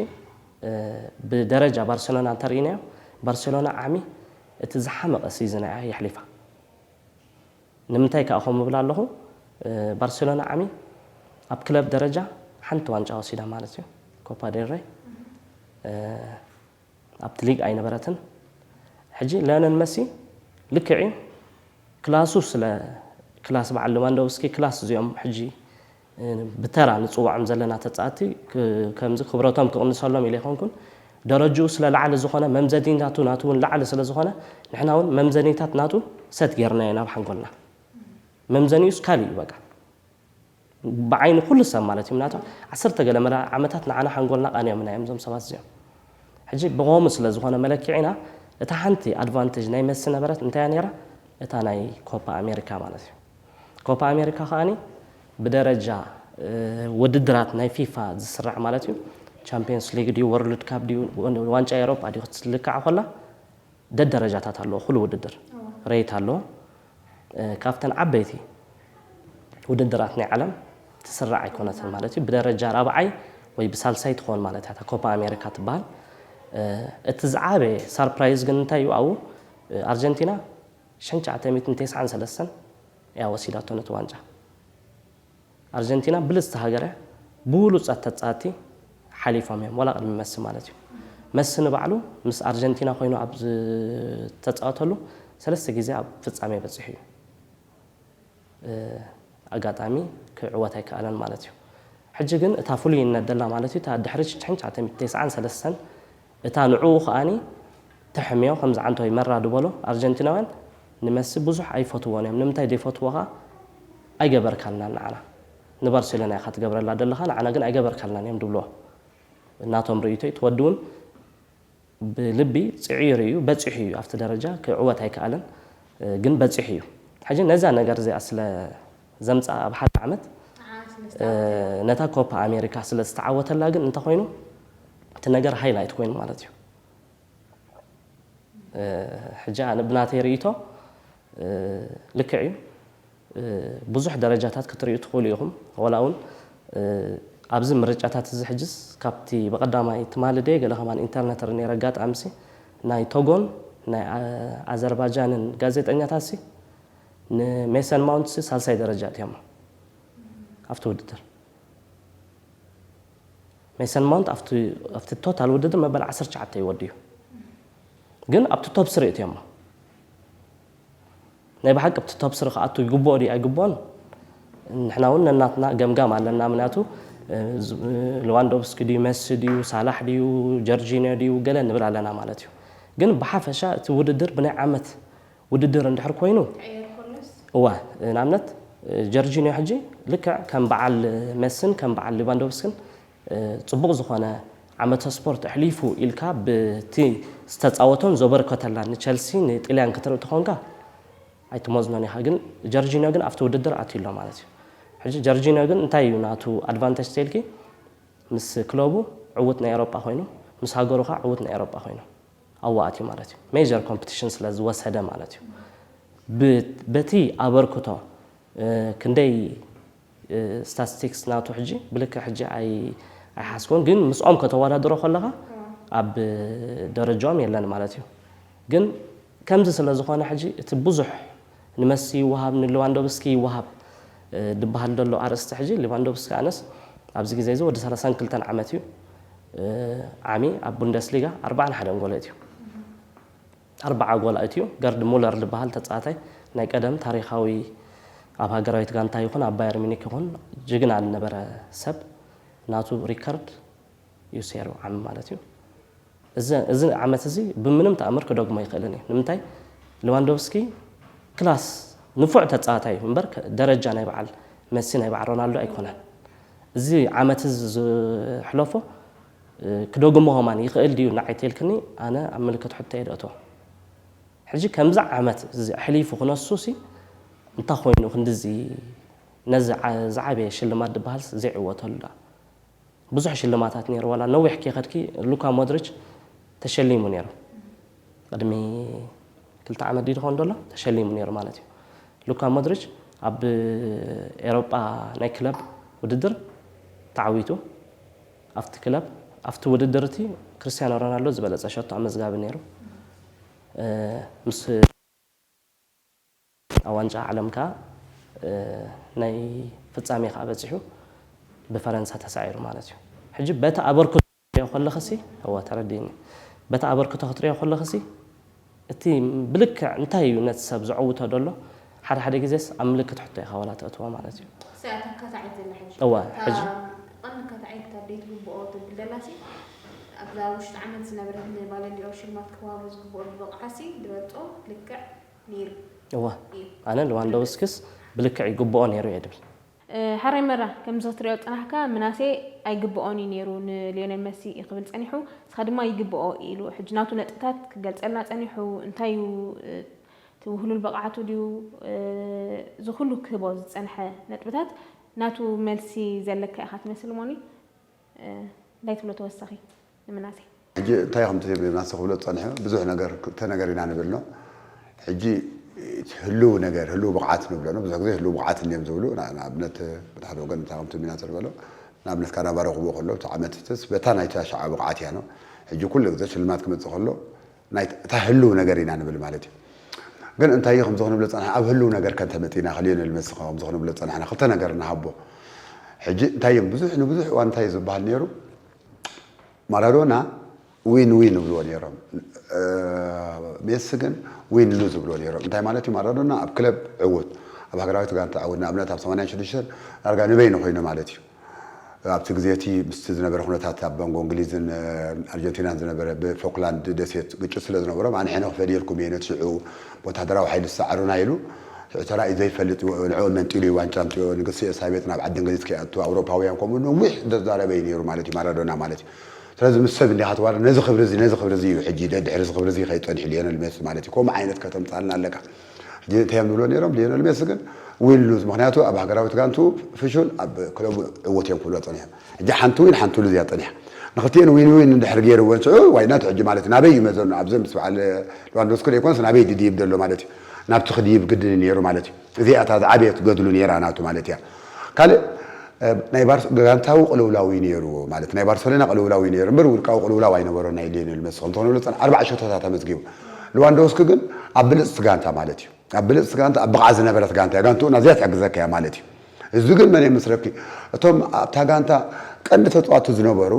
ብደረጃ ባርሴሎና እንተርኢናዮ ባርሴሎና ዓሚ እቲ ዝሓመቐ ሲዝና እያ የሕሊፋ ንምንታይ ከኣ ከምኡ እብል ኣለኹ ባርሴሎና ዓሚ ኣብ ክለብ ደረጃ ሓንቲ ዋንጫ ወሲዳ ማለት እዩ ኮፓ ዴል ረይ ኣብቲ ሊግ ኣይነበረትን ሕጂ ለዮነል መሲ ልክዕ እዩ ክላሱ ስለ ክላስ በዓል ሌዋንዶቭስኪ ክላስ እዚኦም ሕጂ ብተራ ንፅዋዖም ዘለና ተፃእቲ ከምዚ ክብረቶም ክቕንሰሎም ኢለ ይኮንኩን ደረጅኡ ስለ ላዕሊ ዝኾነ መምዘኒታቱ ናቱ እውን ላዕሊ ስለ ዝኾነ ንሕና እውን መምዘኒታት ናቱ ሰት ጌርናዮ ናብ ሓንጎልና መምዘኒኡስ ካልእ እዩ በቃ ብዓይኒ ኩሉ ሰብ ማለት እዩ ምናቱ ዓሰርተ ገለመለ ዓመታት ንዓና ሓንጎልና ቃንዮምና እዮም እዞም ሰባት እዚኦም ሕጂ ብከሙ ስለ ዝኮነ መለኪዒና እታ ሓንቲ ኣድቫንተጅ ናይ መሲ ነበረት እንታይ እያ ነይራ እታ ናይ ኮፓ ኣሜሪካ ማለት እዩ ኮፓ ኣሜሪካ ከኣኒ ብደረጃ ወድድራት ናይ ፊፋ ዝስራዕ ማለት እዩ ቻምፒየንስ ሊግ ድዩ ወርልድ ካፕ ድዩ ዋንጫ ኤሮጳ ድዩ ክትልካዕ ኮላ ደደረጃታት ኣለዎ ኩሉ ውድድር ሬት ኣለዎ ካብተን ዓበይቲ ውድድራት ናይ ዓለም ትስራዕ ኣይኮነትን ማለት እዩ ብደረጃ ራብዓይ ወይ ብሳልሳይ ትኾን ማለት እያ ኮፓ ኣሜሪካ ትበሃል እቲ ዝዓበየ ሳርፕራይዝ ግን እንታይ እዩ ኣብኡ ኣርጀንቲና ሸን ሸዓተ ሚእትን ቴስዓን ሰለስተን እያ ወሲዳቶ ነቲ ዋንጫ ኣርጀንቲና ብልጽቲ ሃገረ ብውሉጻት ተጻትቲ ሓሊፎም እዮም ወላ ቅድሚ መሲ ማለት እዩ መሲ ንባዕሉ ምስ ኣርጀንቲና ኮይኑ ኣብ ዝተጻወተሉ ሰለስተ ግዜ ኣብ ፍጻሜ በጺሑ እዩ ኣጋጣሚ ክዕወት ኣይከኣለን ማለት እዩ ሕጂ ግን እታ ፍሉይነት ደላ ማለት እዩ እታ ድሕሪ ሽሕን ትሽዓተ ሚእትን ተስዓን ሰለስተን እታ ንዕኡ ከኣ ተሕምዮ ከም ዝዓንቶይ መራ ድበሎ ኣርጀንቲናውያን ንመሲ ብዙሕ ኣይፈትዎን እዮም ንምንታይ ዘይፈትዎኻ ኣይገበርካልናን ንዓና ንባርሴሎና ኢኻ ትገብረላ ደለኻ ንዓና ግን ኣይገበርካልናን እዮም ድብልዎ ናቶም ርእይቶይ እቲ ወዲ ውን ብልቢ ጽዕዩ ርእዩ በጺሑ እዩ ኣብቲ ደረጃ ክዕወት ኣይከኣለን ግን በጺሑ እዩ ሕጂ ነዛ ነገር እዚኣ ስለ ዘምጽኣ ኣብ ሓደ ዓመት ነታ ኮፓ ኣሜሪካ ስለ ዝተዓወተላ ግን እንተኾይኑ እቲ ነገር ሃይ ላይት ኮይኑ ማለት እዩ ሕጂ ኣነ ብናተይ ርእይቶ ልክዕ እዩ ብዙሕ ደረጃታት ክትሪኡ ትኽእሉ ኢኹም ወላ እውን ኣብዚ ምርጫታት እዚ ሕጅስ ካብቲ ብቐዳማይ ትማሊ ደየ ገለ ከማን ኢንተርነት ር ነረ ኣጋጣሚሲ ናይ ቶጎን ናይ ኣዘርባጃንን ጋዜጠኛታትሲ ንሜሰን ማውንትስ ሳልሳይ ደረጃ ኣእትዮሞ ኣብቲ ውድድር። ሜሰን ማውንት ኣብቲ ቶታል ውድድር መበል ዓሰርተ ትሽዓተ እዩ ወዲኡ ግን ኣብቲ ቶፕ ስሪ እትዮሞ ናይ ብሓቂ ኣብቲ ቶፕ ስሪ ክኣቱ ይግብኦ ድዩ ኣይግብኦን ንሕና እውን ነናትና ገምጋም ኣለና ምክንያቱ ልዋንዶቭስኪ ድዩ መሲ ድዩ ሳላሕ ድዩ ጀርጂኒዮ ድዩ ገለ ንብል ኣለና ማለት እዩ ግን ብሓፈሻ እቲ ውድድር ብናይ ዓመት ውድድር እንድሕር ኮይኑ እወ ንኣብነት ጀርጂንዮ ሕጂ ልክዕ ከም በዓል መሲን ከም በዓል ሊቫንዶቭስክን ጽቡቕ ዝኾነ ዓመተ ስፖርት ኣሕሊፉ ኢልካ ብቲ ዝተጻወቶን ዘበርከተላን ንቸልሲ ንጥልያን ክትርኢ ተኾንካ ኣይትመዝኖን ኢኻ ግን ጀርጂንዮ ግን ኣብቲ ውድድር ኣትዩ ኣሎ ማለት እዩ ሕጂ ጀርጂንዮ ግን እንታይ እዩ ናቱ ኣድቫንተጅ ተልኪ ምስ ክለቡ ዕውት ናይ ኤሮጳ ኮይኑ ምስ ሃገሩ ከኣ ዕውት ናይ ኤሮጳ ኮይኑ ኣዋእትዩ ማለት እዩ ሜጀር ኮምፕቲሽን ስለ ዝወሰደ ማለት እዩ ብ በቲ ኣበርክቶ ክንደይ ስታስቲክስ ናቱ ሕጂ ብልክዕ ሕጂ ኣይ ኣይሓስቦን ግን ምስኦም ከተወዳድሮ ከለኻ ኣብ ደረጃኦም የለን ማለት እዩ ግን ከምዚ ስለ ዝኾነ ሕጂ እቲ ብዙሕ ንመሲ ይወሃብ ንልዋንዶቭስኪ ይወሃብ ድበሃል ደሎ ኣርእስቲ ሕጂ ልቫንዶቭስኪ ኣነስ ኣብዚ ግዜ እዚ ወዲ ሰላሳን ክልተን ዓመት እዩ ዓሚ ኣብ ቡንደስሊጋ ኣርባዓን ሓደን ጎል ኣእትዩ ኣርባዓ ጎል ኣእትዩ ገርድ ሙለር ድበሃል ተጻዋታይ ናይ ቀደም ታሪኻዊ ኣብ ሃገራዊት ጋንታ ይኹን ኣብ ባየር ሚኒክ ይኹን ጅግና ዝነበረ ሰብ ናቱ ሪከርድ እዩ ሴሩ ዓሚ ማለት እዩ። እዚ ዓመት እዚ ብምንም ተኣምር ክደግሞ ኣይክእልን እዩ። ንምንታይ ልዋንዶቭስኪ ክላስ ንፉዕ ተጻዋታይ እዩ እምበር ደረጃ ናይ በዓል መሲ ናይ በዓል ሮናልዶ ኣይኮነን። እዚ ዓመት እዚ ዝሕለፎ ክደግሞ ሆማን ይኽእል ድዩ ንዓይ ተልክኒ ኣነ ኣብ ምልክት ሕቶ እየ ደእቶ ሕጂ ከምዚ ዓመት እዚ ኣሕሊፉ ክነሱ ሲ እንታይ ኮይኑ ክንድዚ ነዚ ዝዓበየ ሽልማት ዝበሃልስ ዘይዕወተሉ ደኣ ብዙሕ ሽልማታት ነይሩ ዋላ ነዊሕ ከይከድኪ ሉካ ሞድሪች ተሸሊሙ ነይሩ ቅድሚ ክልተ ዓመት ድዩ ዝኸውን ዘሎ ተሸሊሙ ነይሩ ማለት እዩ ሉካ ሞድሪች ኣብ ኤሮጳ ናይ ክለብ ውድድር ተዓዊቱ ኣብቲ ክለብ ኣብቲ ውድድር እቲ ክርስቲያኖ ሮናልዶ ዝበለፀ ሸቶ ኣመዝጋቢ ነይሩ ምስ ኣብ ዋንጫ ዓለም ከኣ ናይ ፍጻሜ ከኣ በጺሑ ብፈረንሳ ተሳዒሩ ማለት እዩ። ሕጂ በቲ ኣበርክቶ ክትሪኦ ከለኽሲ፣ እወ ተረዲእኒ፣ በቲ ኣበርክቶ ክትሪኦ ከለኽሲ እቲ ብልክዕ እንታይ እዩ ነቲ ሰብ ዘዕውቶ ደሎ ሓደ ሓደ ግዜስ ኣብ ምልክት ሕቶ ኢኻ ዋላ ተእትዎ ማለት እዩ። እሰይ ኣታ ካታዒት ዘላ ሕጂ እወ እታ ሕጂ ቀንዲ ካታዒት እታ ደይ ትግብኦ ትብል ዘላሲ ኣብዛ ውሽጢ ዓመት ዝነበረት ንባለንዲኦር ሽልማት ክዋሃቦ ዝግብኦ ዝበቕዓሲ ድበልጾ ልክዕ ነይሩ እወ እዩ። ኣነ ልዋንዶውስክስ ብልክዕ ይግብኦ ነይሩ እየ ድብል። ሐራይ መራ ከምዚ ክትሪኦ ዝጸናሕካ ምናሴ ኣይግብኦን እዩ ነይሩ ንልዮኔል መሲ ክብል ጸኒሑ ንስኻ ድማ ይግብኦ ኢሉ ሕጂ ናቱ ነጥብታት ክገልጸልና ጸኒሑ እንታይ እዩ እቲ ውህሉል ብቕዓቱ ድዩ እዚ ኩሉ ክህቦ ዝጸንሐ ነጥብታት ናቱ መልሲ ዘለካ ኢኻ ትመስል ሞኒ እንታይ ትብሎ ተወሳኺ ንምናሴ? ሕጂ እንታይ ኢኹም ትብሉ ምናሴ ክብሎ ዝጸንሐ ብዙሕ ነገር ተነገር ኢና ንብል ን ሕጂ ህሉው ነገር ህሉው ብቕዓት ንብሎ ን ብዙሕ ግዜ ህሉው ብቕዓት እንድዮም ዝብሉ ንኣብነት በቲ ሓደ ወገን እንታይ ከምቲ ምናሴ ዝበሎ ንኣብነት ካናባሪ ክብኡ ከሎ እቲ ዓመት እትስ በታ ናይቲ ኣሽዓ ብቕዓት እያ ን ሕጂ ኩሉ ግዜ ሽልማት ክመጽእ ከሎ ናይ እታ ህሉው ነገር ኢና ንብል ማለት እዩ። ግን እንታይ እዩ ከምዚ ክንብሎ ዝጸናሕና ኣብ ህሉው ነገር ከ እንተመጺእና ከሊዮኔል መስኽ ከምዚ ክንብሎ ዝጸናሕና ክልተ ነገር ንሃቦ ሕጂ እንታይ እዮም ብዙሕ ንብዙሕ እዋን እንታይ እዩ ዝበሃል ነይሩ ማራዶና ዊን ዊን ይብልዎ ነይሮም ሜሲ ግን ዊን ሉዝ ይብልዎ ነይሮም እንታይ ማለት እዩ ማራዶና ኣብ ክለብ ዕውት ኣብ ሃገራዊት ጋንታ ዕውት ንኣብነት ኣብ 86 ዳርጋ ንበይኑ ኮይኑ ማለት እዩ ኣብቲ ግዜ እቲ ምስቲ ዝነበረ ኩነታት ኣብ መንጎ እንግሊዝን ኣርጀንቲናን ዝነበረ ብፎክላንድ ደሴት ግጭት ስለ ዝነበሮም ኣነ ሕነ ክፈድየልኩም እየ ነቲ ሽዑ ወተሃደራዊ ሓይሊ ዝሰዓሩና ኢሉ ሽዑ ተራእዩ ዘይፈልጥ ንዕኦም መንጢሉ እዩ ዋንጫ ኣምጺኦ ንግስቲ ኤልሳቤጥ ናብ ዓዲ እንግሊዝ ከይኣቱ ኣውሮፓውያን ከምኡ ነዊሕ ዘዛረበ እዩ ነይሩ ማለት እዩ ማራዶና ማለት እዩ ስለዚ ምስ ሰብ እንዲኻ ትዋረ ነዚ ክብሪ እዚ ነዚ ክብሪ እዚ እዩ ሕጂ ደድሕሪ እዚ ክብሪ እዚ ከይጸንሑ ሊዮነል ሜሲ ማለት እዩ ከምኡ ዓይነት ከተምጻልና ኣለካ ሕጂ እንታይ እዮም ዝብልዎ ነይሮም ሊዮነል ሜሲ ግን ዊን ሉዝ ምክንያቱ ኣብ ሃገራዊት ጋንቱ ፍሹል ኣብ ክለቡ ዕውት እዮም ክብልዎ ጸኒሖም ሕጂ ሓንቲ ዊን ሓንቲ ሉዝ እያ ጸኒሓ ንክልቲኤን ዊን ዊን እንድሕር ገይርወን ሽዑ ዋይናት ሕጂ ማለት ናበይ እዩ መዘኑ ኣብዚ ምስ በዓል ልዋንዶስኪ ዘይኮነስ ናበይ ድድይብ ዘሎ ማለት እዩ ናብቲ ክድይብ ግድን ነይሩ ማለት እዩ እዚኣ እታ ዝዓበየት ገድሉ ነይራ ናቱ ማለት እያ ካልእ ናይ ጋንታዊ ቅልውላው እዩ ነይሩ ማለት ናይ ባርሰሎና ቅልውላው እዩ ነይሩ እምበር ውልቃዊ ቅልውላው ኣይነበሮ ናይ ሊዮኔል መሲ ከምቲ ክንብሎ ፀን ኣርባዕ ሸቶታት ኣመዝጊቡ ልዋንዶውስኪ ግን ኣብ ብልጽቲ ጋንታ ማለት እዩ ኣብ ብልጽቲ ጋንታ ኣብ ብቕዓት ዝነበረት ጋንታ እያ ጋንትኡ ናዚኣ ትሕግዘካ እያ ማለት እዩ እዚ ግን መን የመስለኪ እቶም ኣብታ ጋንታ ቀንዲ ተጻዋቲ ዝነበሩ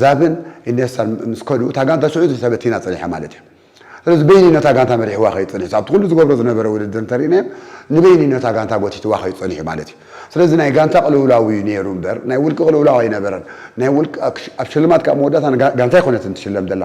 ዛብን ኢኔስታን ምስ ከዱ እታ ጋንታ ሽዑ ተበቲና ጸኒሓ ማለት እያ ስለዚ በይኒ ነታ ጋንታ መሪሕዋ ከይድ ጸኒሑ ኣብቲ ኩሉ ዝገብሮ ዝነበረ ውድድር እንተሪእናዮ ንበይኒ ነታ ጋንታ ጎቲትዋ ከይድ ጸኒሑ ማለት እዩ ስለዚ ናይ ጋንታ ቅልውላው እዩ ነይሩ እምበር ናይ ውልቂ ቅልውላው ኣይነበረን ናይ ውልቂ ኣብ ሽልማት ካብ መወዳእታ ጋንታ ኣይኮነትን ትሽለም ዘላ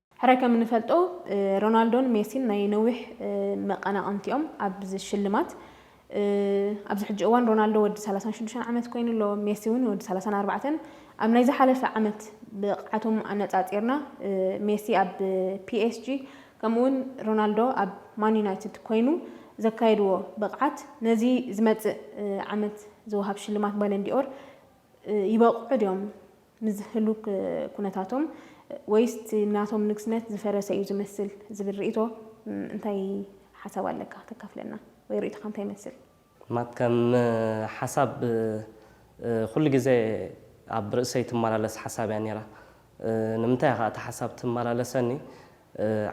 ሕራይ ከም እንፈልጦ ሮናልዶን ሜሲን ናይ ነዊሕ መቐናቕንቲ እዮም ኣብዚ ሽልማት። ኣብዚ ሕጂ እዋን ሮናልዶ ወዲ ሰላሳን ሽዱሽተን ዓመት ኮይኑ ኣሎ፣ ሜሲ እውን ወዲ ሰላሳን ኣርባዕተን። ኣብ ናይ ዝሓለፈ ዓመት ብቕዓቶም ኣነጻጺርና ሜሲ ኣብ ፒኤስጂ ከምኡ'ውን ሮናልዶ ኣብ ማን ዩናይትድ ኮይኑ ዘካየድዎ ብቕዓት ነዚ ዝመጽእ ዓመት ዝወሃብ ሽልማት ባለንዲ'ኦር ይበቕዑ ድዮም? ንዚ ህሉክ ኩነታቶም ወይስ እቲ ናቶም ንግስነት ዝፈረሰ እዩ ዝመስል ዝብል ርእይቶ እንታይ ሓሳብ ኣለካ ተካፍለና ወይ ርእይቶኻ እንታይ ይመስል? ማት ከም ሓሳብ ኩሉ ግዜ ኣብ ርእሰይ ትማላለስ ሓሳብ እያ ኔራ ንምንታይ እያ ከኣ እታ ሓሳብ ትማላለሰኒ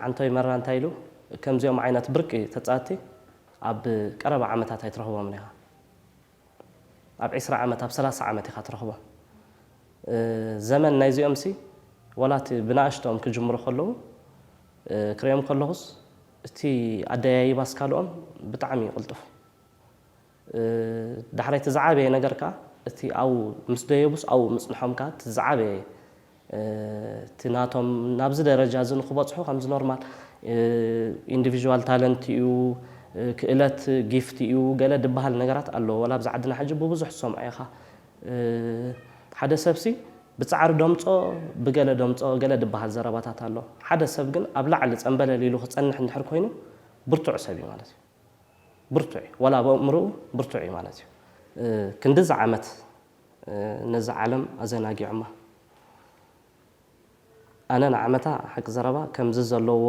ዓንቶይ መራ እንታይ ኢሉ ከምዚኦም ዓይነት ብርቂ ተጻቲ ኣብ ቀረባ ዓመታት ኣይትረኽቦምን ኢኻ። ኣብ ዕስራ ዓመት ኣብ ሰላሳ ዓመት ኢኻ ትረኽቦ ዘመን ናይዚኦምሲ ወላ እቲ ብናእሽትኦም ክጅምሩ ከለዉ ክርእዮም ከለኹስ እቲ ኣደያይባ ኣስካልኦም ብጣዕሚ እዩ ቅልጡፍ ዳሕራይ እቲ ዝዓበየ ነገር ከኣ እቲ ኣብኡ ምስ ደየቡስ ኣብኡ ምጽንሖም ከኣ እቲ ዝዓበየ እቲ ናቶም ናብዚ ደረጃ እዚ ንክበፅሑ ከምዚ ኖርማል ኢንዲቪዥዋል ታለንት እዩ፣ ክእለት ጊፍት እዩ ገለ ድበሃል ነገራት ኣሎ። ዋላ ኣብዚ ዓድና ሕጂ ብብዙሕ ትሰምዖ ኢኻ። ሓደ ሰብሲ ብፃዕሪ ደምፆ ብገለ ደምፆ ገለ ድበሃል ዘረባታት ኣሎ። ሓደ ሰብ ግን ኣብ ላዕሊ ፀምበለል ኢሉ ክፀንሕ እንድሕር ኮይኑ ብርቱዕ ሰብ እዩ ማለት እዩ። ብርቱዕ እዩ ዋላ ኣብ ኣእምርኡ ብርቱዕ እዩ ማለት እዩ። ክንድዚ ዓመት ነዛ ዓለም ኣዘናጊዖማ ኣነ ንዓመታ ሓቂ ዘረባ ከምዚ ዘለዎ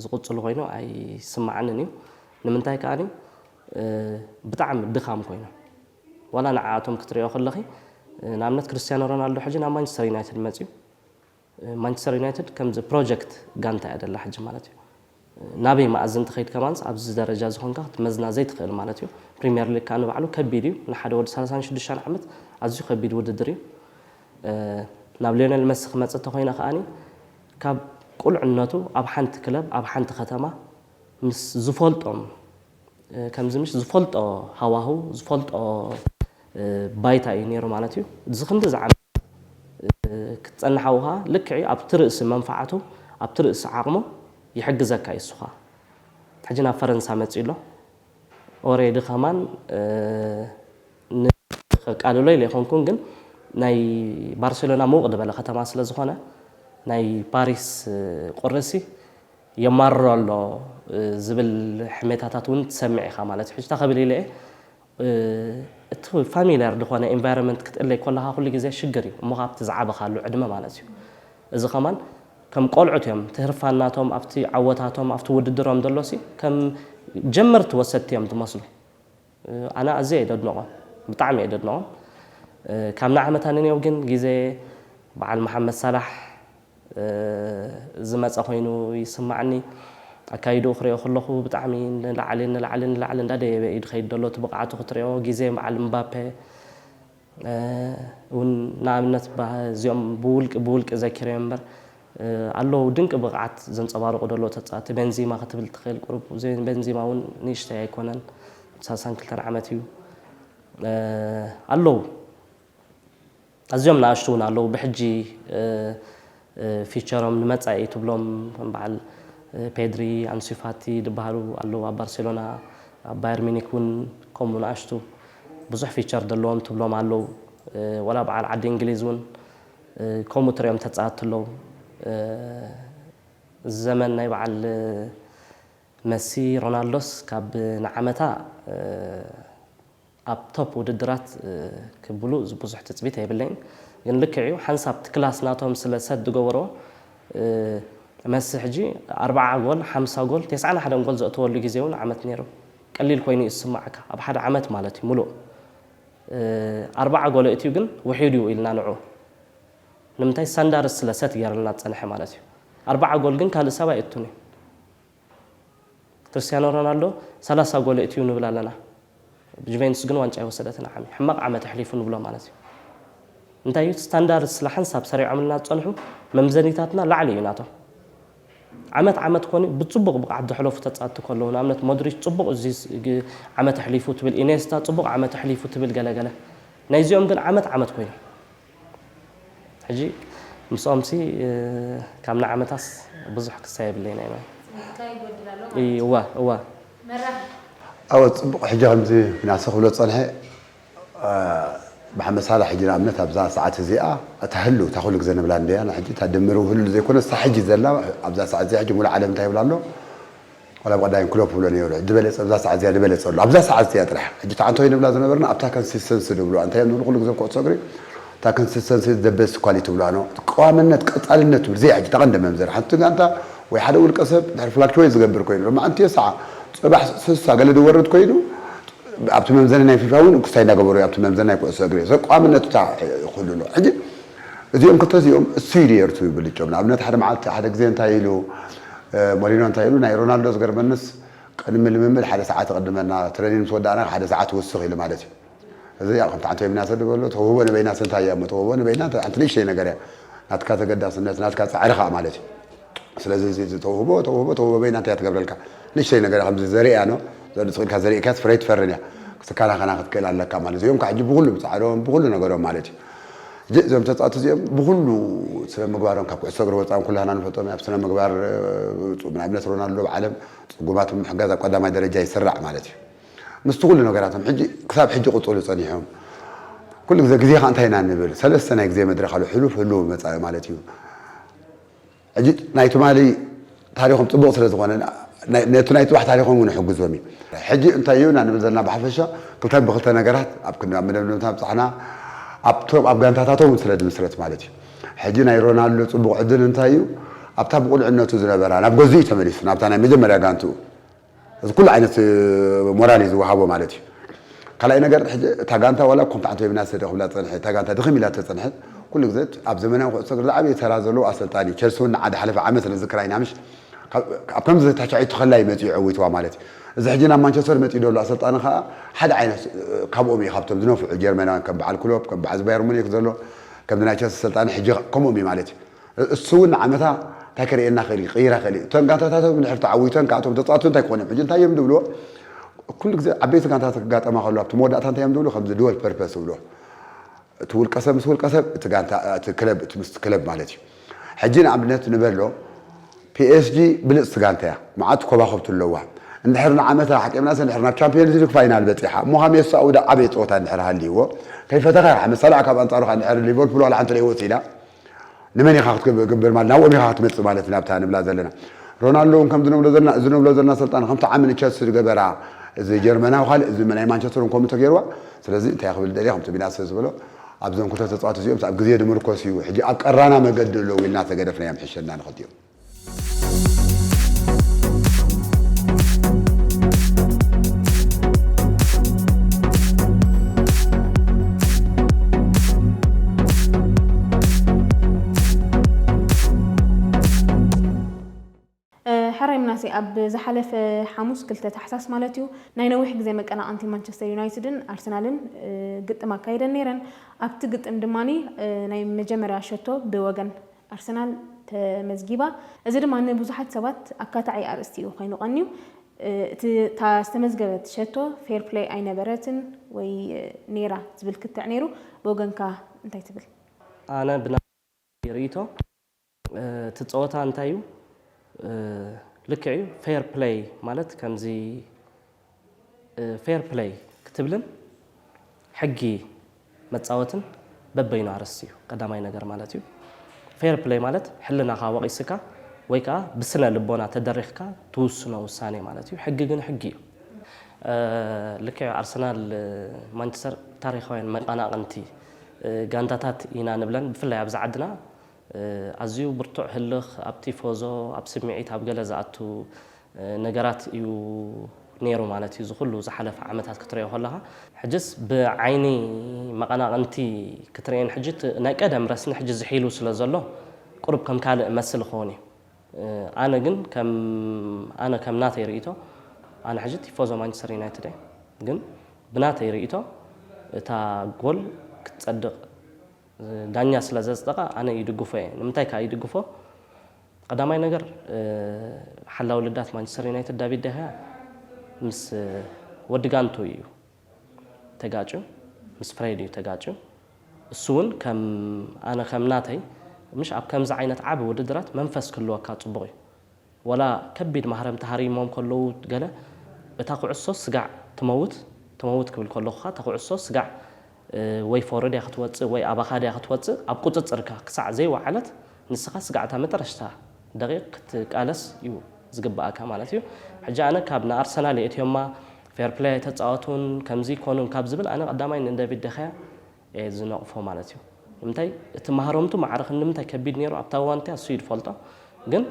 ዝቕጽሉ ኮይኑ ኣይስምዓንን እዩ ንምንታይ ከኣ ብጣዕሚ ድኻም ኮይኖም ዋላ ንዓኣቶም ክትሪኦ ከለኺ ንኣብነት ክርስትያኖ ሮናልዶ ሕጂ ናብ ማንችስተር ዩናይትድ መጺኡ ማንቸስተር ዩናይትድ ከምዚ ፕሮጀክት ጋንታ እያ ደላ ሕጂ ማለት እዩ። ናበይ መኣዝ እንተኸይድ ከማንስ ኣብዚ ደረጃ እዚ ኮንካ ክትመዝና ዘይትኽእል ማለት እዩ። ፕሪምየር ሊግ ከኣ ንባዕሉ ከቢድ እዩ። ንሓደ ወዲ ሰላሳን ሽዱሽተን ዓመት ኣዝዩ ከቢድ ውድድር እዩ። ናብ ሊዮነል መሲ ክመጽእ እንተኾይነ ከኣኒ ካብ ቁልዕነቱ ኣብ ሓንቲ ክለብ ኣብ ሓንቲ ከተማ ምስ ዝፈልጦም ከምዚ ምሽ ዝፈልጦ ሃዋህው ዝፈልጦ ባይታ እዩ ነይሩ ማለት እዩ። እዚ ክንድዚ ዓመታት ክትጸንሓ ውሃ ልክዕ'ዩ ኣብቲ ርእሲ መንፍዓቱ ኣብቲ ርእሲ ዓቕሙ ይሕግዘካ እዩ እሱ'ዃ ሕጂ ናብ ፈረንሳ መጺኡ ኣሎ ኦሬዲ ከማን ን ከቃልሎ ኢለ ኣይኮንኩን ግን ናይ ባርሴሎና ምውቕ ድበለ ከተማ ስለ ዝኾነ ናይ ፓሪስ ቁሪ'ሲ የማርሮ ኣሎ ዝብል ሕሜታታት ውን ትሰምዕ ኢኻ ማለት እዩ ሕጂ እታ ክብል ኢለ እየ እቲ ፋሚልያር ድኾነ ኢንቫይሮመንት ክትእለይ ኮለኻ ኩሉ ግዜ ሽግር እዩ እሞ ኻኣ ኣብቲ ዝዓበኻሉ ዕድመ ማለት እዩ እዚ ኸማን ከም ቆልዑት እዮም እቲ ህርፋን ናቶም ኣብቲ ዓወታቶም ኣብቲ ውድድሮም ደሎሲ ከም ጀመርቲ ወሰድቲ እዮም ድመስሉ ኣነ ኣዝየ እየ ደድንቖም ብጣዕሚ እየ ደድንቖም ካብ ንዓመታ ንኔው ግን ግዜ በዓል መሓመድ ሳላሕ ዝመጸ ኮይኑ ይስማዓኒ ኣካይድኡ ክሪኦ ከለኩ ብጣዕሚ ንላዕሊ ንላዕሊ ንላዕሊ እንዳ ደየበ እዩ ድከይድ ደሎ እቲ ብቅዓቱ ክትሪኦ ግዜ በዓል ምባፔ ውን ንኣብነት እዚኦም ብውልቂ ብውልቂ ዘኪረዮም እምበር ኣለዉ ድንቂ ብቅዓት ዘንጸባርቁ ደለዉ ተጻቲ በንዚማ ክትብል ትክእል ቁሩብ በንዚማ ውን ንእሽተይ ኣይኮነን ሳሳን ክልተን ዓመት እዩ ኣለዉ። ኣዝዮም ናኣሽቱ ውን ኣለዉ ብሕጂ ፊቸሮም ንመጻኢ ትብሎም ከም በዓል ፔድሪ ኣንሱ ፋቲ ድበሃሉ ኣለዉ ኣብ ባርሴሎና ኣብ ባየር ሚኒክ ውን ከምኡ ናኣሽቱ ብዙሕ ፊቸር ደለዎም ትብሎም ኣለዉ ወላ በዓል ዓዲ እንግሊዝ ውን ከምኡ ትሪኦም ተጻወቲ ኣለዉ እዚ ዘመን ናይ በዓል መሲ ሮናልዶስ ካብ ንዓመታ ኣብ ቶፕ ውድድራት ክብሉ ብዙሕ ትጽቢት ኣይብለይን ግን ልክዕ እዩ ሓንሳብ እቲ ክላስ ናቶም ስለ ሰት ዝገበሮ መሲ ሕጂ ኣርብዓ ጎል ሓምሳ ጎል ተስዓን ሓደን ጎል ዘእተወሉ ግዜ ውን ዓመት ኔሩ ቀሊል ኮይኑ እዩ ዝስምዓካ ኣብ ሓደ ዓመት ማለት እዩ ምሉእ ኣርብዓ ጎል ኣእትዩ ግን ውሒዱ እዩ ኢልና ንዑ ንምንታይ ሳንዳርስ ስለ ሰት ገርልና ዝጸንሐ ማለት እዩ ኣርብዓ ጎል ግን ካልእ ሰብ ኣይእቱን እዩ ክርስትያኖ ሮናልዶ ሰላሳ ጎል የእትዩ ንብል ኣለና ጁቬንቱስ ግን ዋንጫ ኣይወሰደትን ዓሚ ሕማቕ ዓመት ኣሕሊፉ ንብሎ ማለት እዩ እንታይ እዩ ስታንዳርድ ስለ ሓንሳብ ሰሪዖምልና ዝጸንሑ መምዘኒታትና ላዕሊ እዩ ናቶም ዓመት ዓመት ኮኒ ብጽቡቕ ብቕዓት ዘሕለፉ ተጻወትቲ ከለዉ ንኣብነት ሞድሪች ጽቡቕ እዚ ዓመት ኣሕሊፉ ትብል ኢኔስታ ጽቡቕ ዓመት ኣሕሊፉ ትብል ገለገለ ናይዚኦም ግን ዓመት ዓመት ኮይኑ ሕጂ ምስኦምሲ ካብ ንዓመታስ ብዙሕ ክሳ የብለይን ኣየ ስኒትካ ይጎድል ኣሎ ማለት እዩ። እወ እወ። መራሒ። ኣወ ጽቡቅ ሕጂ ከምዚ ምናሰ ክብሎ ዝጸንሐ ብሓመድ ሳላሕ ሕጂ ንኣብነት ኣብዛ ሰዓት እዚኣ እታ ህሉ እታ ኩሉ ግዘ ንብላ እንድያ ሕጂ እታ ድምር ውህሉል ዘይኮነስ እታ ሕጂ ዘላ ኣብዛ ሰዓት እዚኣ ሕጂ ሙሉእ ዓለም እንታይ ይብላ ኣሎ ዋላ ብ ቀዳይም ክሎፕ ይብሎ ኔሩ ሕጂ በለጸ ኣብዛ ሰዓት እዚኣ ንበለጸ ኣሎ ኣብዛ ሰዓት እዚኣ ጥራሕ ሕጂ እታ ኣንቶይ ንብላ ዝነበርና ኣብታ ከንሲስተንሲ ንብሉዋ እንታይ እዮም ዝብሉ ኩሉ ግዘ ብ ኩዕሶ እግሪ እታ ከንሲስተንሲ ኢዝ ዘ በስት ኳሊቲ ይብሉዋ ን ቀዋምነት ቀጻልነት ትብል እዚኣ እያ ሕጂ እታ ቀንዲ መምዘኒ ሓንቲ ጋንታ ወይ ሓደ ውልቀ ሰብ ድሕሪ ፍላክቸዌት ዝገብር ኮይኑ ሎማዓንቲ የስዓ ጽባሕ ስሳ ገለ ዝወርድ ኮይኑ ኣብቲ መምዘኒ ናይ ፊፋ ውን ክስታይ እንዳገበሩ ኣብቲ መምዘኒ ናይ ኩዕሶ እግሪ ሰብ ቀዋምነት እታ ኩሉ ኣሎ ሕጂ እዚኦም ክልተ እዚኦም እሱይ ድዩ ኤርትሩ ይብል ልጮም ንኣብነት ሓደ መዓልቲ ሓደ ግዜ እንታይ ኢሉ ሞሪኖ እንታይ ኢሉ ናይ ሮናልዶ ዝገርመንስ ቅድሚ ልምምድ ሓደ ሰዓት ይቅድመና ትረኒን ምስ ወዳእና ሓደ ሰዓት ይውስኽ ኢሉ ማለት እዩ እዚ ያው ከምቲ ሓንቲ በይናሰ ድበሎ ተውህቦ ንበይናሰ እንታይ እያ እሞ ተውህቦ ንበይና ሓንቲ ንእሽተይ ነገር እያ ናትካ ተገዳስነት ናትካ ጻዕሪ ከኣ ማለት እዩ ስለዚ እዚ እዚ ተውህቦ ተውህቦ ተውህቦ በይና እንታይ እያ ትገብረልካ? ንእሽተይ ነገር እያ ከምዚ ዘርእያኖ ዘድጽ ኢልካ ዘሪእካያስ ፍረ ኣይትፈርን እያ። ክትከናኸና ክትክእል ኣለካ ማለት እዚኦም ከዓ ሕጂ ብኹሉ ብጻዕሮም ብኹሉ ነገሮም ማለት እዩ። ሕጂ እዞም ተጻወቲ እዚኦም ብኹሉ ስነ ምግባሮም ካብ ኩዕሶ እግሪ ወጻእን ኩላህና ንፈልጦም ኣብ ስነ ምግባር ጹ ንኣብነት ሮናልዶ ኣብ ዓለም ጽጉማት ብምሕጋዝ ኣብ ቀዳማይ ደረጃ ይስራዕ ማለት እዩ። ምስቲ ኩሉ ነገራቶም ሕጂ ክሳብ ሕጂ ክቅጽሉ ጸኒሖም ኩሉ ግዜ ግዜ ከዓ እንታይ ኢና ንብል ሰለስተ ናይ ግዜ መድረኽ ኣሎ ሕሉፍ ህሉው መጻኢ ማለት እዩ። ሕጂ ናይ ትማሊ ታሪኾም ጽቡቕ ስለ ዝኾነ ነቲ ናይ ጽባሕ ታሪኾም እውን ይሕግዞም እዩ። ሕጂ እንታይ ኢና ንብል ዘለና ብሓፈሻ ክልተ ብክልተ ነገራት ኣብ ክንዲ ኣብ መደምደምታ ምብጻሕና ኣብቶም ኣብ ጋንታታቶም እውን ስለ ዝምስረት ማለት እዩ። ሕጂ ናይ ሮናልዶ ጽቡቕ ዕድል እንታይ እዩ ኣብታ ብቁልዕነቱ ዝነበራ ናብ ገዝኡ እዩ ተመሊሱ ናብታ ናይ መጀመርያ ጋንትኡ። እዚ ኩሉ ዓይነት ሞራል እዩ ዝወሃቦ ማለት እዩ። ካልኣይ ነገር ሕጂ እታ ጋንታ ዋላ ኮምታ ኣንቶይብና ሰደ ክብላ ዝጸንሐ እታ ጋንታ ድኽም ኢላ ተጸንሐት ኩሉ ግዘ ኣብ ዘመናዊ ኩዕሶ እግሪ ዝዓበየ ተራ ዘለዎ ኣሰልጣኒ ቸልሲ ውን ንዓ ዝሓለፈ ዓመት ንዝክር ኣይና ምሽ ኣብ ከምዚ ተቻዒቱ ከላ እዩ መጺኡ ዐዊትዋ ማለት እዩ እዚ ሕጂ ናብ ማንቸስተር መጺኡ ዘሎ ኣሰልጣኒ ከኣ ሓደ ዓይነት ካብኦም እዩ ካብቶም ዝነፍዑ ጀርመናውያን ከም በዓል ክሎፕ ከም በዓል ባየር ሙኒክ ዘሎ ከምዚ ናይ ቸልሲ ኣሰልጣኒ ሕጂ ከምኦም እዩ ማለት እዩ እሱ እውን ንዓመታ እንታይ ከርእየና ይኽእል እዩ? ክቕይራ ይኽእል እዩ። እተን ጋንታታት እውን ድሕሪ ተዓዊተን ከኣ እቶም ተጻወትቲ እንታይ ክኾኑ እዮም? ሕጂ እንታይ እዮም ዝብልዎ? ኩሉ ግዜ ዓበይቲ ጋንታታት ክጋጠማ ከለዋ ኣብቲ መወዳእታ እንታይ እዮም ዝብሉ? ከምዚ ድወል ፐርፐስ ዝብልዎ እቲ ውልቀሰብ ምስ ውልቀሰብ እቲ ጋንታ እቲ ክለብ እቲ ምስ ክለብ ማለት እዩ። ሕጂ ንኣብነት ንበሎ ፒኤስጂ ብልጽቲ ጋንታ እያ። መዓት ኮባኹብቲ ኣለዋ። እንድሕር ንዓመታ ኣሕጢምናስ እንድሕር ናብ ቻምፕዮንስ ሊግ ፋይናል በጺሓ እሞ ከኣ ሜሲ ኣውዳ ዓበየ ጸወታ እንድሕር ሃልይዎ ከይፈተኸ ይርሓ መሳልዕ ካብ ኣንጻሩ ከኣ እንድሕር ሊቨርፑል ዋላ ሓንቲ ደይወጽኢላ ንመን ኢኻ ክትገብር ማለት ናብኦም ኢኻ ክትመጽእ ማለት ናብታ ንብላ ዘለና ሮናልዶ እውን ከምዚ ንብሎ ዘለና እዚ ንብሎ ዘለና ሰልጣን ከምቲ ዓሚ ንቸልሲ ዝገበራ እዚ ጀርመናዊ ካልእ እዚ ናይ ማንቸስተር እውን ከምኡ ተገይርዋ ስለዚ እንታይ ክብል ደልየ ከምቲ ቢናሰ ዝበሎ ኣብዞም ክልተ ተጻወቲ እዚኦምስ ኣብ ግዜ ንምርኮስ እዩ ሕጂ ኣብ ቀራና መገዲ ኣለዉ ኢልና ተገደፍናዮም ሕሸና ንክልቲኦም ምናሴ ኣብ ዝሓለፈ ሓሙስ ክልተ ታሕሳስ ማለት እዩ ናይ ነዊሕ ግዜ መቀናቐንቲ ማንቸስተር ዩናይትድን ኣርሰናልን ግጥም ኣካይደን ነይረን ኣብቲ ግጥም ድማ ናይ መጀመርያ ሸቶ ብወገን ኣርሰናል ተመዝጊባ። እዚ ድማ ንብዙሓት ሰባት ኣካታዒ ኣርእስቲ እዩ ኮይኑ ቀንዩ። እቲ እታ ዝተመዝገበት ሸቶ ፌር ፕለይ ኣይነበረትን ወይ ነይራ ዝብል ክትዕ ነይሩ። ብወገንካ እንታይ ትብል? ኣነ ብናተይ ርእይቶ እቲ ጸወታ እንታይ እዩ ልክዕ እዩ ፌር ፕለይ ማለት ከምዚ ፌር ፕለይ ክትብልን ሕጊ መጻወትን በበይኑ ኣርእስቲ እዩ ቀዳማይ ነገር ማለት እዩ ፌር ፕለይ ማለት ሕልናኻ ወቒስካ ወይ ከኣ ብስነ ልቦና ተደሪኽካ ትውስኖ ውሳኔ ማለት እዩ ሕጊ ግን ሕጊ እዩ ልክዕ ኣርሰናል ማንቸስተር ታሪኻውያን መቐናቕንቲ ጋንታታት ኢና ንብለን ብፍላይ ኣብዚ ዓድና ኣዝዩ ብርቱዕ ህልኽ ኣብ ቲፎዞ ኣብ ስምዒት ኣብ ገለ ዝኣቱ ነገራት እዩ ኔሩ ማለት እዩ እዚ ኩሉ ዝሓለፈ ዓመታት ክትሪኦ ከለኻ ሕጅስ ብዓይኒ መቐናቕንቲ ክትሪኤን ሕጂ እቲ ናይ ቀደም ረስኒ ሕጂ ዝሒሉ ስለ ዘሎ ቁሩብ ከም ካልእ እመስል ይኸውን እዩ ኣነ ግን ከም ኣነ ከም ናተይ ሪኢቶ ኣነ ሕጂ ቲፎዞ ማንችስተር ዩናይትድ እየ ግን ብናተይ ሪኢቶ እታ ጎል ክትጸድቕ ዳኛ ስለ ዘጽደቐ ኣነ ይድግፎ እየ። ንምንታይ ከኣ ይድግፎ? ቀዳማይ ነገር ሓላዊ ልዳት ማንቸስተር ዩናይትድ ዳቪድ ደሃያ ምስ ወዲ ጋንቱ እዩ ተጋጭዩ፣ ምስ ፍሬድ እዩ ተጋጭዩ። እሱ እውን ከም ኣነ ከም ናተይ ምሽ ኣብ ከምዚ ዓይነት ዓቢ ውድድራት መንፈስ ክህልወካ ጽቡቕ እዩ። ወላ ከቢድ ማህረምቲ ሃሪሞም ከለዉ ገለ እታ ኩዕሶ ስጋዕ ትመውት ትመውት ክብል ከለኹ ከኣ እታ ኩዕሶ ስጋዕ ወይ ፎርወርድ እያ ክትወጽእ ወይ ኣባኻ ድያ ክትወጽእ ኣብ ቁጽጽርካ ክሳዕ ዘይወዓለት ንስኻ ስጋዕ እታ መጠረሽታ ደቒቕ ክትቃለስ እዩ ዝግብኣካ ማለት እዩ ሕጂ ኣነ ካብ ንኣርሰናል የእትዮማ ፌርፕለይ ኣይተጻወቱን ከምዚ ኣይኮኑን ካብ ዝብል ኣነ ቀዳማይ ንደቪድ ደኸያ እየ ዝነቕፎ ማለት እዩ ንምንታይ እቲ ማህረምቱ ማዕረ ክንድምንታይ ከቢድ ነይሩ ኣብታ እዋን እቲኣ እሱ እዩ ዝፈልጦ ግን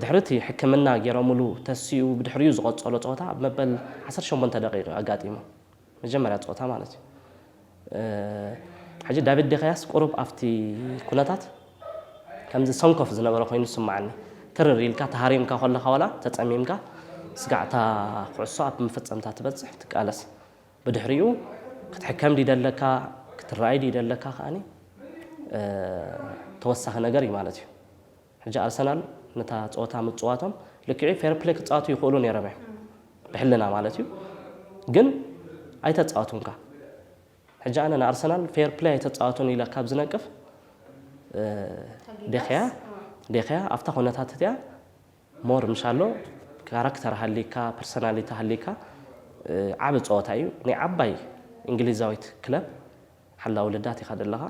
ድሕሪ እቲ ሕክምና ገይሮምሉ ተሲኡ ብድሕሪኡ ዝቐፀሎ ፀወታ ኣብ መበል ዓሰርተ ሸሞንተ ደቒቕ እዩ ኣጋጢሙ መጀመርያ ፀወታ ማለት እዩ ሕጂ ዳቪድ ዴኸያስ ቁሩብ ኣብቲ ኩነታት ከምዚ ሰንኮፍ ዝነበረ ኮይኑ ዝስምዓኒ ትርር ኢልካ ተሃሪምካ ከለኻ ዋላ ተፀሚምካ ስጋዕታ ኩዕሶ ኣብ መፈፀምታ ትበፅሕ ትቃለስ ብድሕሪኡ ክትሕከም ድዩ ደለካ ክትረኣይ ድዩ ደለካ ከኣ ተወሳኺ ነገር እዩ ማለት እዩ። ሕጂ ኣርሰናል ነታ ጸወታ ምጽዋቶም ልክዕ'ዩ ፌር ፕለይ ክጻወቱ ይኽእሉ ነይሮም እዮም ብሕልና ማለት እዩ ግን ኣይተጻወቱንካ ሕጂ ኣነ ንኣርሰናል ፌር ፕለይ ኣይተጻወቱን ኢለ ካብ ዝነቅፍ ዴኽያ ዴኽያ ኣብታ ኩነታት እቲኣ more ምሻሎ ካራክተር ሃልይካ ፐርሰናሊቲ ሃልይካ ዓቢ ጸወታ ኢዩ ናይ ዓባይ እንግሊዛዊት ክለብ ሓላዊ ልዳት ኢኻ ደለኻ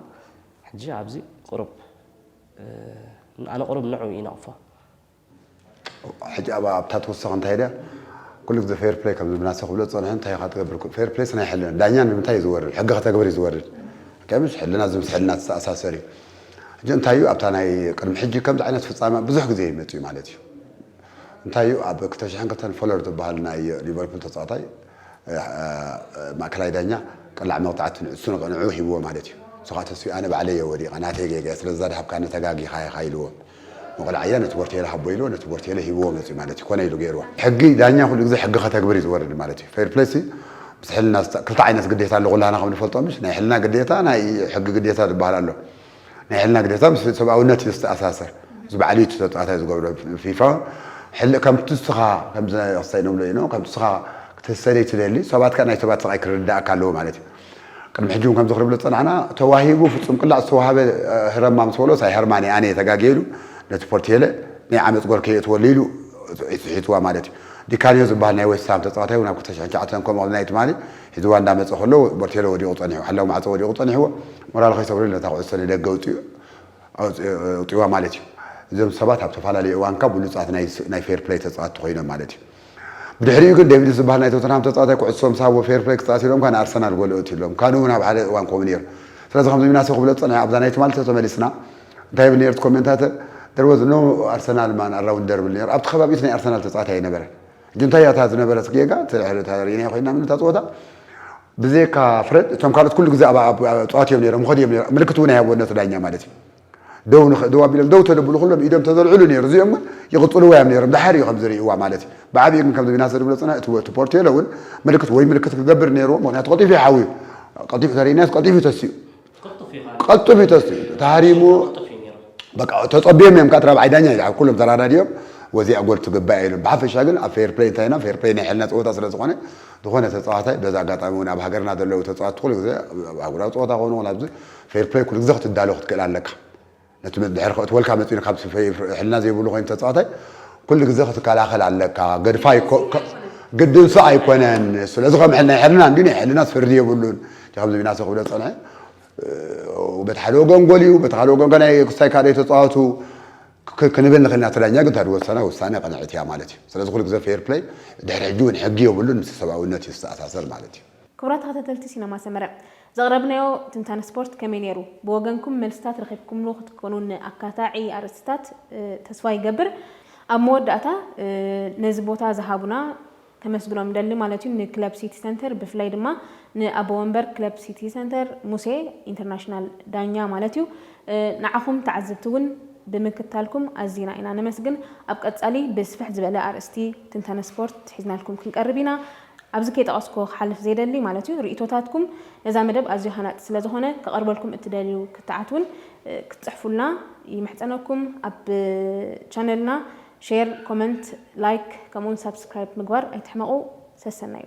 ሕጂ ኣብዚ ቁሩብ ኣነ ቁሩብ ንዑ ይነቕፎ። ሕጂ ኣብኣ ኣብታ ትውስኽ እንታይ ድያ ኩሉ ግዜ ፌር ፕለይ ከም ዝብናሰ ክብሎ ዝጸንሑ እንታይ ኢኻ ትገብር ኩሉ ፌር ፕለይስ ናይ ሕልና ዳኛ ንምንታይ ኢዩ ዝወርድ ሕጊ ከተግብር ኢዩ ዝወርድ ኦኬ ምሽ ሕልና እዚ ምስ ሕልና ዝተኣሳሰር ኢዩ ሕጂ እንታይ እዩ ኣብታ ናይ ቅድሚ ሕጂ ከምዚ ዓይነት ፍጻመ ብዙሕ ግዜ እዩ መጺኡ ማለት እዩ እንታይ እዩ ኣብ ክልተ ሽሕን ክልተን ፎለር ዝበሃል ናይ ሊቨርፑል ተጻዋታይ ማእከላይ ዳኛ ቅላዕ መቕጻዕቲ ንዕሱ ንዕኡ ሂብዎ ማለት እዩ ንሱ ከዓ ተስፍዩ ኣነ ባዕለይ እየ ወዲቐ ናተይ ጌጋ እየ ስለዚ እዛ ድሃብካኒ ተጋጊኻ ኢኻ ኢልዎ መቕላዕያ ነቲ ቦርቴለ ሃቦ ኢልዎ ነቲ ቦርቴለ ሂብዎ መጺኡ ማለት እዩ ኮነ ኢሉ ገይርዎ። ሕጊ ዳኛ ኩሉ ግዜ ሕጊ ከተግብር እዩ ዝወርድ ማለት እዩ። ፌር ፕለይ ሲ ምስ ሕልና ዝጣ ክልተ ዓይነት ግዴታ ኣሎ ኩላህና ከም ንፈልጦ ምሽ ናይ ሕልና ግዴታ ናይ ሕጊ ግዴታ ዝባሃል ኣሎ። ናይ ሕልና ግዴታ ምስ ሰብኣውነት እዩ ዝተኣሳሰር። እዚ ባዕሉ እዩ እቲ ተጻዋታይ ዝገብሮ። ፊፋ ሕል ከምቲ እስኻ ከምዚ ክሰይኖምሎ ኢኖ ከምቲ እስኻ ክትህሰደይ ትደሊ ሰባት ከኣ ናይ ሰባት ስቓይ ክርድኣካ ኣለዎ ማለት እዩ። ቅድሚ ሕጂ ውን ከምዚ ክንብሎ ዝጸናሕና ተዋሂቡ ፍጹም ቅላዕ ዝተዋሃበ ህረማ ምስ በሎ ሳይ ሀርማን እየ ኣነ ተጋግየ ኢሉ ነቲ ፖርቲየለ ናይ ዓመጽ ጎል ከየእትወሉ ኢሉ ስሒትዋ ማለት እዩ። ዲካንዮ ዝብሃል ናይ ዌስት ሃም ተጻዋታይ ውን ኣብ ክልተ ሽሕን ትሽዓተን ከምኡ ቅድሚ ናይ ትማሊ ሒዝዋ እንዳ መጸ ከሎ ፖርቲየለ ወዲቁ ጸኒሑ ሓላዊ ማዕጾ ወዲቁ ጸኒሕዎ ሞራሉ ከይሰብረሉ ነታ ኩዕሶ ንደገ ኣውጺኡ ኣውጺእዋ ማለት እዩ። እዞም ሰባት ኣብ ተፋላለየ እዋንካ ብሉጻት ናይ ፌር ፕለይ ተጻወቲ ኮይኖም ማለት እዩ። ብድሕሪኡ ግን ዴቪድስ ዝበሃል ናይ ቶተንሃም ተጻዋታይ ኩዕሶ ምስ ሃብዎ ፌር ፕለይ ክጻወት ኢሎምካ ንኣርሰናል ጎል እእቱ ኢሎም ካኑ እውን ኣብ ሓደ እዋን ከምኡ ኔሩ ስለዚ ከምዚ ሚናሴ ክብሎ ዝጸንሐ ኣብዛ ናይ ትማሊ ቶቶ መሊስና እንታይ ይብል ኔሩ እቲ ኮሜንታተር there was no Arsenal man around there ይብል ኔሩ ኣብቲ ከባቢኡት ናይ ኣርሰናል ተጻዋታይ ኣይነበረን ግን እንታይ እያ እታ ዝነበረት ጌጋ እቲ ሕደታ ርኢናዮ ኮይና ምን እታ ጸወታ ብዘይካ ፍረድ እቶም ካልኦት ኩሉ ግዜ ኣብ ኣብ ጸዋት እዮም ኔሮም ይኸዱ እዮም ኔሮም ምልክት እውን ኣይሃብዎ ነቲ ዳኛ ማለት እዩ ደው ንኽ ደው ኣቢሎም ደው ተደብሉ ኩሎም ኢዶም ተዘልዕሉ ነይሩ እዚኦም ግን ይቕጽልዎ እዮም ነይሮም ድሓር እዩ ከም ዝርእይዋ ማለት እዩ ብዓብዩ ግን ከምዚ ቢናሰ ዝብሎ ጽና እቲ እቲ ፖርቴሎ እውን ምልክት ወይ ምልክት ክገብር ነይርዎ ምክንያቱ ቀጢፉ እዩ ሓውዩ ቀጢፉ ተርእናስ ቀጢፉ ተስኡ ቀጥፍ እዩ ተስኡ ተሃሪሙ በቃ ተጸብዮም እዮም ካት ራብዓይ ዳኛ እዩ ኩሎም ተራዳድዮም ወዚያ ጎል ትግባእ ኢሎም ብሓፈሻ ግን ኣብ ፌር ፕሌይ እንታይና ፌር ፕሌይ ናይ ሕልና ፀወታ ስለ ዝኾነ ዝኾነ ተፃዋታይ በዛ ኣጋጣሚ እውን ኣብ ሃገርና ዘለዉ ተፃዋት ኩሉ ግዜ ኣጉራዊ ፀወታ ኮኑ ኣብዚ ፌር ፕለይ ኩሉ ግዘ ክትዳሎ ክትክእል ኣለካ ነቲ ድሕሪ ከእትወልካ መጺኡ ን ካብ ሕልና ዘይብሉ ኮይኑ ተጻዋታይ ኩሉ ግዘ ክትከላኸል ኣለካ ገድፋ ግድንሱ ኣይኮነን ስለዚ ከም ናይ ሕልና እንዲ ናይ ሕልናስ ፍርዲ የብሉን እቲ ከምዚ ቢናሰ ክብሎ ዝጸንሐ በቲ ሓደ ወገን ጎል እዩ በቲ ካልእ ወገን ከ ናይ ክስታይ ካልኦት ተጻዋቱ ክንብል ንኽእል ኢና እቲ ዳኛ ግን ተድወሰና ውሳነ ቅንዕት እያ ማለት እዩ ስለዚ ኩሉ ግዘ ፌር ፕለይ ድሕሪ ሕጂ እውን ሕጊ የብሉን ምስ ሰብኣውነት እዩ ዝተኣሳሰር ማለት እዩ ክቡራት ተኸታተልቲ ሲነማ ሰመረ ዘቕረብናዮ ትንታነ ስፖርት ከመይ ነይሩ? ብወገንኩም መልስታት ረኺብኩምሉ ክትኮኑ ንኣካታዒ ኣርእስትታት ተስፋ ይገብር። ኣብ መወዳእታ ነዚ ቦታ ዝሃቡና ከመስግኖም እደሊ ማለት እዩ ንክለብ ሲቲ ሰንተር ብፍላይ ድማ ንኣቦ ወንበር ክለብ ሲቲ ሰንተር ሙሴ ኢንተርናሽናል ዳኛ ማለት እዩ ንዓኹም ተዓዘብቲ እውን ብምክታልኩም ኣዚና ኢና ነመስግን። ኣብ ቀጻሊ ብስፍሕ ዝበለ ኣርእስቲ ትንታነ ስፖርት ሒዝናልኩም ክንቀርብ ኢና። ኣብዚ ከይጠቐስኩ ክሓልፍ ዘይደሊ ማለት'ዩ ርእይቶታትኩም ነዛ መደብ ኣዝዩ ሃናጺ ስለ ዝኾነ ክቐርበልኩም እትደልዩ ክትዓት ውን ክትጽሕፉልና ይምሕጸነኩም ኣብ ቻነልና ሼር ኮመንት ላይክ ከምኡውን ሳብስክራይብ ምግባር ኣይትሕመቑ ሰሰናዩ።